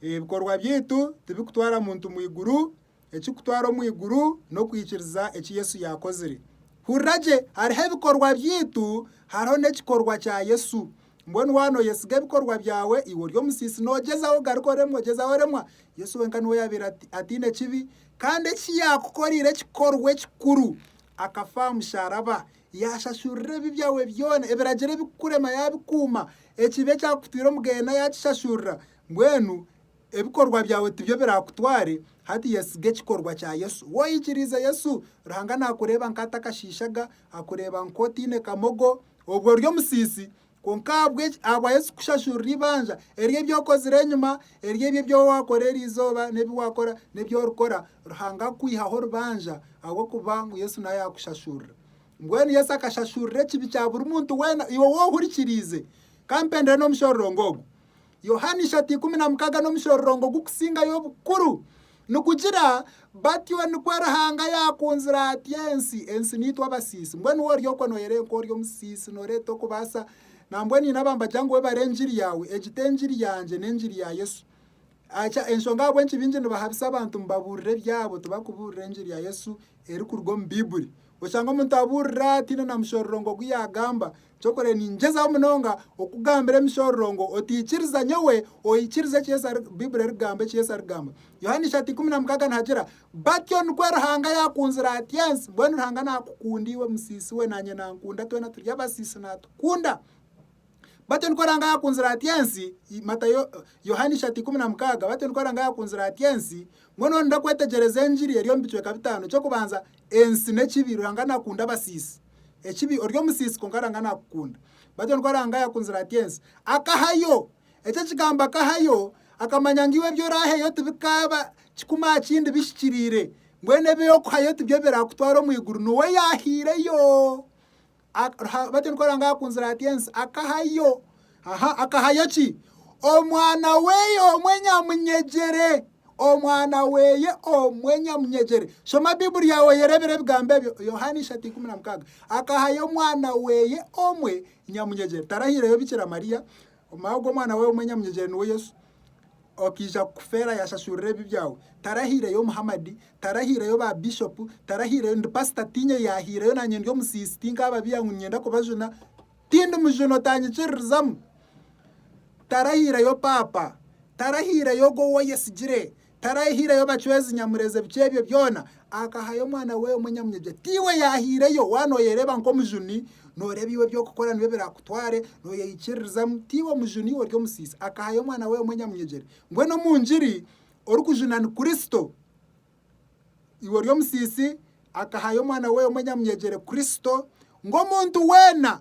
Ebikorwa byaitu tibirikutwara muntu mu iguru. Ekikutwara omu iguru n'okwikiriza eki Yesu yaakozire. Hurira gye, hariho ebikorwa byaitu, hariho n'ekikorwa kya Yesu. Mbwenu waaba nooyesiga ebikorwa byawe, iwe ori omusiisi, noogyezaho ogaruke oremwe, ogyezaho oremwa, Yesu wenka niwe yaabaire ataine kibi, kandi eki yaakukoreire ekikorwa ekikuru, akafa aha musharaba, yaashashurira ebibi byawe byona, ebiragiro ebikukurema yaabikuuma, ekibi ekyakutwire omu geena yaakishashurira, mbwenu Ebikorwa byawe tibyo birakutware hati yesiga ekikorwa kya Yesu. Woyikiriize Yesu, Ruhanga nakureeba nkata akashiishaga, akureeba nka otaine kamogo, obwe ori omusiisi, kwonka ahabweki ahabwa Yesu kushashurira eibanja eri ebyokozire enyima, eri ebi ebyowakora eri izooba nebi wakora nebi orikora, Ruhanga akwihaho orubanja ahabwokuba ngu Yesu nawe yakushashurira. Mbwenu Yesu akashashurira ekibi kya buri muntu wena iwe wohurikiriize. Kampendere nomushororongo ogu. Yohaana ishatu ikumi na mukaaga n'omushororongo gukusingayo obukuru. Nigugira, Batyo nikwo Ruhanga yaakunzire ati ensi, ensi niitwe abasiisi. Mbwenu woori okwo nooyera nk'ori omusiisi, nooreeta okubaasa. Nambwenu haine abambagira ngu webare engiri yaawe. Egi t'engiri yangye, n'engiri ya Yesu. Aca enshonga ahabw'enki baingi nibahabisa abantu ngu babuurire ebyabo, tibakubuurira engiri ya Yesu erikuruga omu Baibuli. Oshanga omuntu abuurira ataine na mushororongo ogu yaagamba, Kyokoree ningyezaho munonga okukugambira emishororo ngu otiikiriza nyowe, oikirize eki Yesu ari Bibuli erikugamba, eki Yesu arikugamba. Yohaana ishatu ikumi na mukaaga nihagira, Batyo nikwo Ruhanga yaakunzire ati ensi, mbwenu Ruhanga naakukunda iwe musiisi we, naanye nankunda, twena turi abasiisi naatukunda. Batyo nikwo Ruhanga yaakunzire ati ensi, Matayo, Yohaana ishatu ikumi na mukaaga, batyo nikwo Ruhanga yaakunzire ati ensi, mbwenu orinde kwetegyereza engiri eri omu bicweka bitaano, eky'okubanza Ensi n'ekibi, Ruhanga naakunda abasiisi. Ekibi, ori omusiisi kwonka Ruhanga naakukunda. Bwatyo nikwo Ruhanga yaakunzire ati ensi. Akahayo. Eki ekigambo akahayo, akamanya ngu iwe ebi oraaheyo tibikaaba kikumi aha kindi bihikiriire. Mbwenu ebi orikuhayo tibyo biraakutwara omu iguru. Niwe yaahaireyo. Aha batyo nikwo Ruhanga yaakunzire ati ensi, akahayo, aha, akahayo ki? Omwana weye omwe nyamunyegyere, Omwana weye omwe nyamunyegyere. Shoma Baiburi yaawe oyereebere ebigambo ebyo, Yohaana ishatu ikumi na mukaaga. Akahayo Omwana weye omwe nyamunyegyere. Tarahireyo Bikira Mariya, omwago gw'Omwana weye omwe nyamunyegyere niwe Yesu. Okiija kukufeera yashashurira ebibi byawe. Tarahiireyo Muhamadi, tarahiireyo ba Bishopu, tarahiireyo, ndi Pasita tiinye yaahiireyo naanye ndi omusiisi tinkaababiiha ngu niinyenda kubajuna, tindi mujuna otaanyikiririzamu. Tarahiireyo Paapa, tarahiireyo ogwo ou oyesigire, tarahiireyo bacwezi Nyamurezi ebicu ebyo byona Akahayo omwana we omwe nyamunyabyaga. Tiiwe yaahaireyo. Waaba nooyereeba nk'omujuni, nooreeba iwe eby'okukora nibyo biraakutware, nooyeikiririzamu. Tiiwe mujuni, ori omusiisi. Akahayo omwana we omwe nyamunyegyere. Mbwenu omu ngiri, orikujuna ni Kristo. Iwe ori omusiisi, akahayo omwana we omwe nyamunyegyere, Kristo, ngu omuntu weena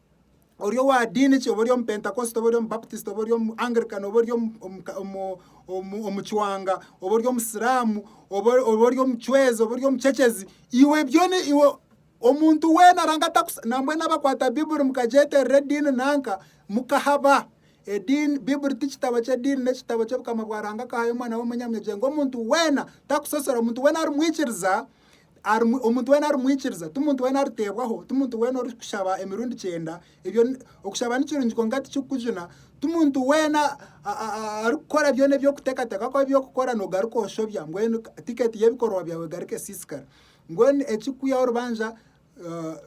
ori owa diini ki, oba ori omupentakositi, oba ori omubaputisiti, oba ori omu Angrican, oba ori omu- omu- ka- omu- omu- omucwanga, oba ori omusiramu, oba ori- oba ori omucwezi, oba ori omucecezi, iwe byona iwe omuntu weena aranga atakusi nambwenu abakwata Bibuli mukagyeterera ediini nanka mukahaba. Ediini Bibuli ti kitabo ky'ediini n'ekitabo ky'obukama bwa Ruhanga akahayo omwana we omunyamunyagye ngu omuntu weena takusosorwa, omuntu weena ari mwikiriza Ari, omuntu weena arimwikiriza, ti muntu weena ariteebwaho, ti muntu weena orikushaba emirundi kyenda, ebyo, okushaba ni kirungi kwonka tikikukujuna, ti muntu weena arikukora byona eby'okuteekateeka kwaawe eby'okukora noogaruka oshobya, mbwenu tiketi y'ebikorwa byaawe egaruka esiisikara. Mbwenu ekirikwihaho orubanja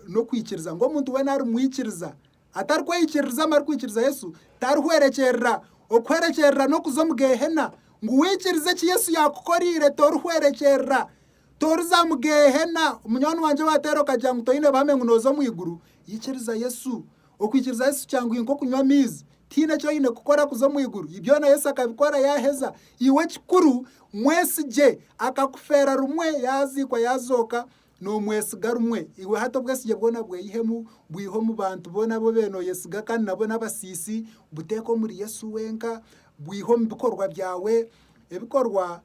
n'okwikiriza ngu omuntu weena arimwikiriza. Atarikweyikiririza amarikwikiriza Yesu tarihwerekyerera. Okuhwerekyerera n'okuza omu Geehena. Ngu waikiriza eki Yesu yaakukoreire, torihwerekyerera. Toriza mu Geehena. Munywani wangye waateera okagira ngu toine buhame ngu nooza omu iguru, ikiriza Yesu. Okwikiriza Yesu kyanguhi nk'okunywa amaizi. Tihaine eki oine kukora kuza omu iguru. Byona Yesu akabikora yaaheza. Iwe ekikuru mwesigye. Akakufeera rumwe, yaaziikwa yaazooka. Noomwesiga rumwe, iwe hati obwesigye bwona bweyihemu, bwihe omu bantu boona abu obeire nooyesiga kandi nabo n'abasiisi, buteeke omuri Yesu wenka, bwihe omu bikorwa byawe. Ebikorwa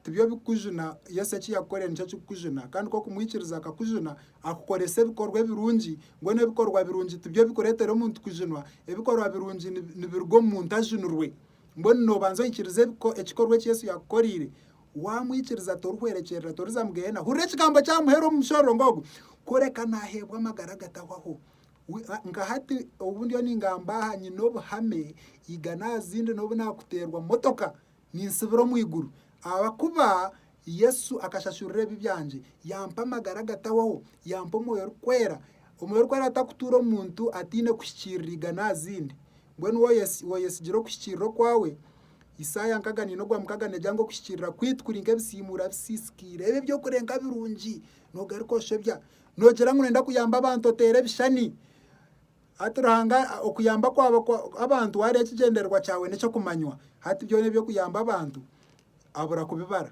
tibyo bikukujuna, Yesu eki yakukorire nikyo kirikukujuna kandi ku okumwikiriza akakujuna, akukorese ebikorwa ebirungi, mbwenu ebikorwa birungi tibyo bikureetera omuntu kujunwa, ebikorwa birungi nibiruga omu muntu ajunirwe. Mbwenu noobanza oikirize ekikorwa eki Yesu yaakukoreire, Waamwikiriza, torihwerekyerera, toriza mu Gehenna. Hurira ekigambo eki amuheera omu mushororongo ogu, kureka naaheebwa amagara agatahwaho. Nka hati obu ndiyo ningamba aha, nyine obuhame igana aha zindi n'obu naakuteerwa motoka, ninsibira omu iguru ahakuba Yesu akashashurira ebibi byangye, yaampa amagara agatahwaho, yaampa Omwoyo Orikwera. Omwoyo Orikwera atakutuura omu muntu ataine kuhikiirira igana aha zindi. Mbwenu woyesigire okuhikiirira okwawe? Isaaya nkaga neina ogwa mukaga negira ngu okuhikiirira kwaitu kuri nk'ebisiimuura bisiisikiire. Ebi eby'okurenga birungi noogaruka oshobya. Noogira ngu noyenda kuyamba abantu oteera ebishushani. Hati Ruhanga okuyamba kwawe abantu wareeba ekigyendererwa kyawe n'eky'okumanywa. Hati byona eby'okuyamba abantu abura kubibara.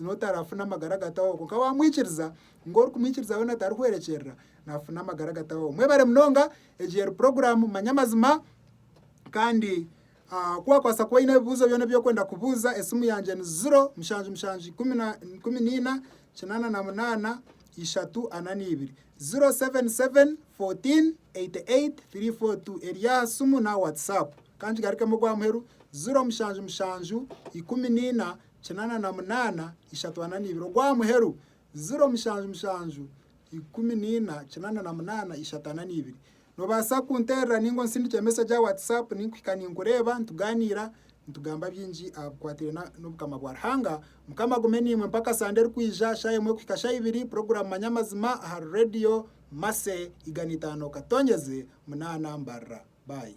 n'otarafuna amagara agatahoho kwonka wamwikiriza ngu orikumwikiriza weena atarikuhwerekyerera nafuna amagara agatahoho. Mwebare munonga egyeri puroguramu manya amazima kandi ku wakwaasa kuba oine ebibuuzo byona ebi okwenda kubuuza esimu yangye ni ziro mushanju mushanju ikumi na ikumi neina kinaana na munaana ishatu ana neibiri ziro seveni seveni fotiini eyiti eyiti tiri foo tu eryaha simu na watsapu. Kangigarukemu ogw'amuheru ziro mushanju mushanju ikumi neina kinaana na munaana ishatu ana neibiri ogwa muheru ziro mushanju mushanju ikumi neina kinaana na munaana ishatu ana neibiri nobaasa kunterera ninga onsindikire message aha WhatsApp ninkuhika ninkureeba nituganiira nitugamba bingi aha bikwataine na n'obukama bwa Ruhanga. Mukama agume niimwe mpaka sande erikwija shaaha emwe kuhika shaaha ibiri puroguramu manya amazima ahari Radio Mercy igana itaano katonyeze munaana mbarira. Bye.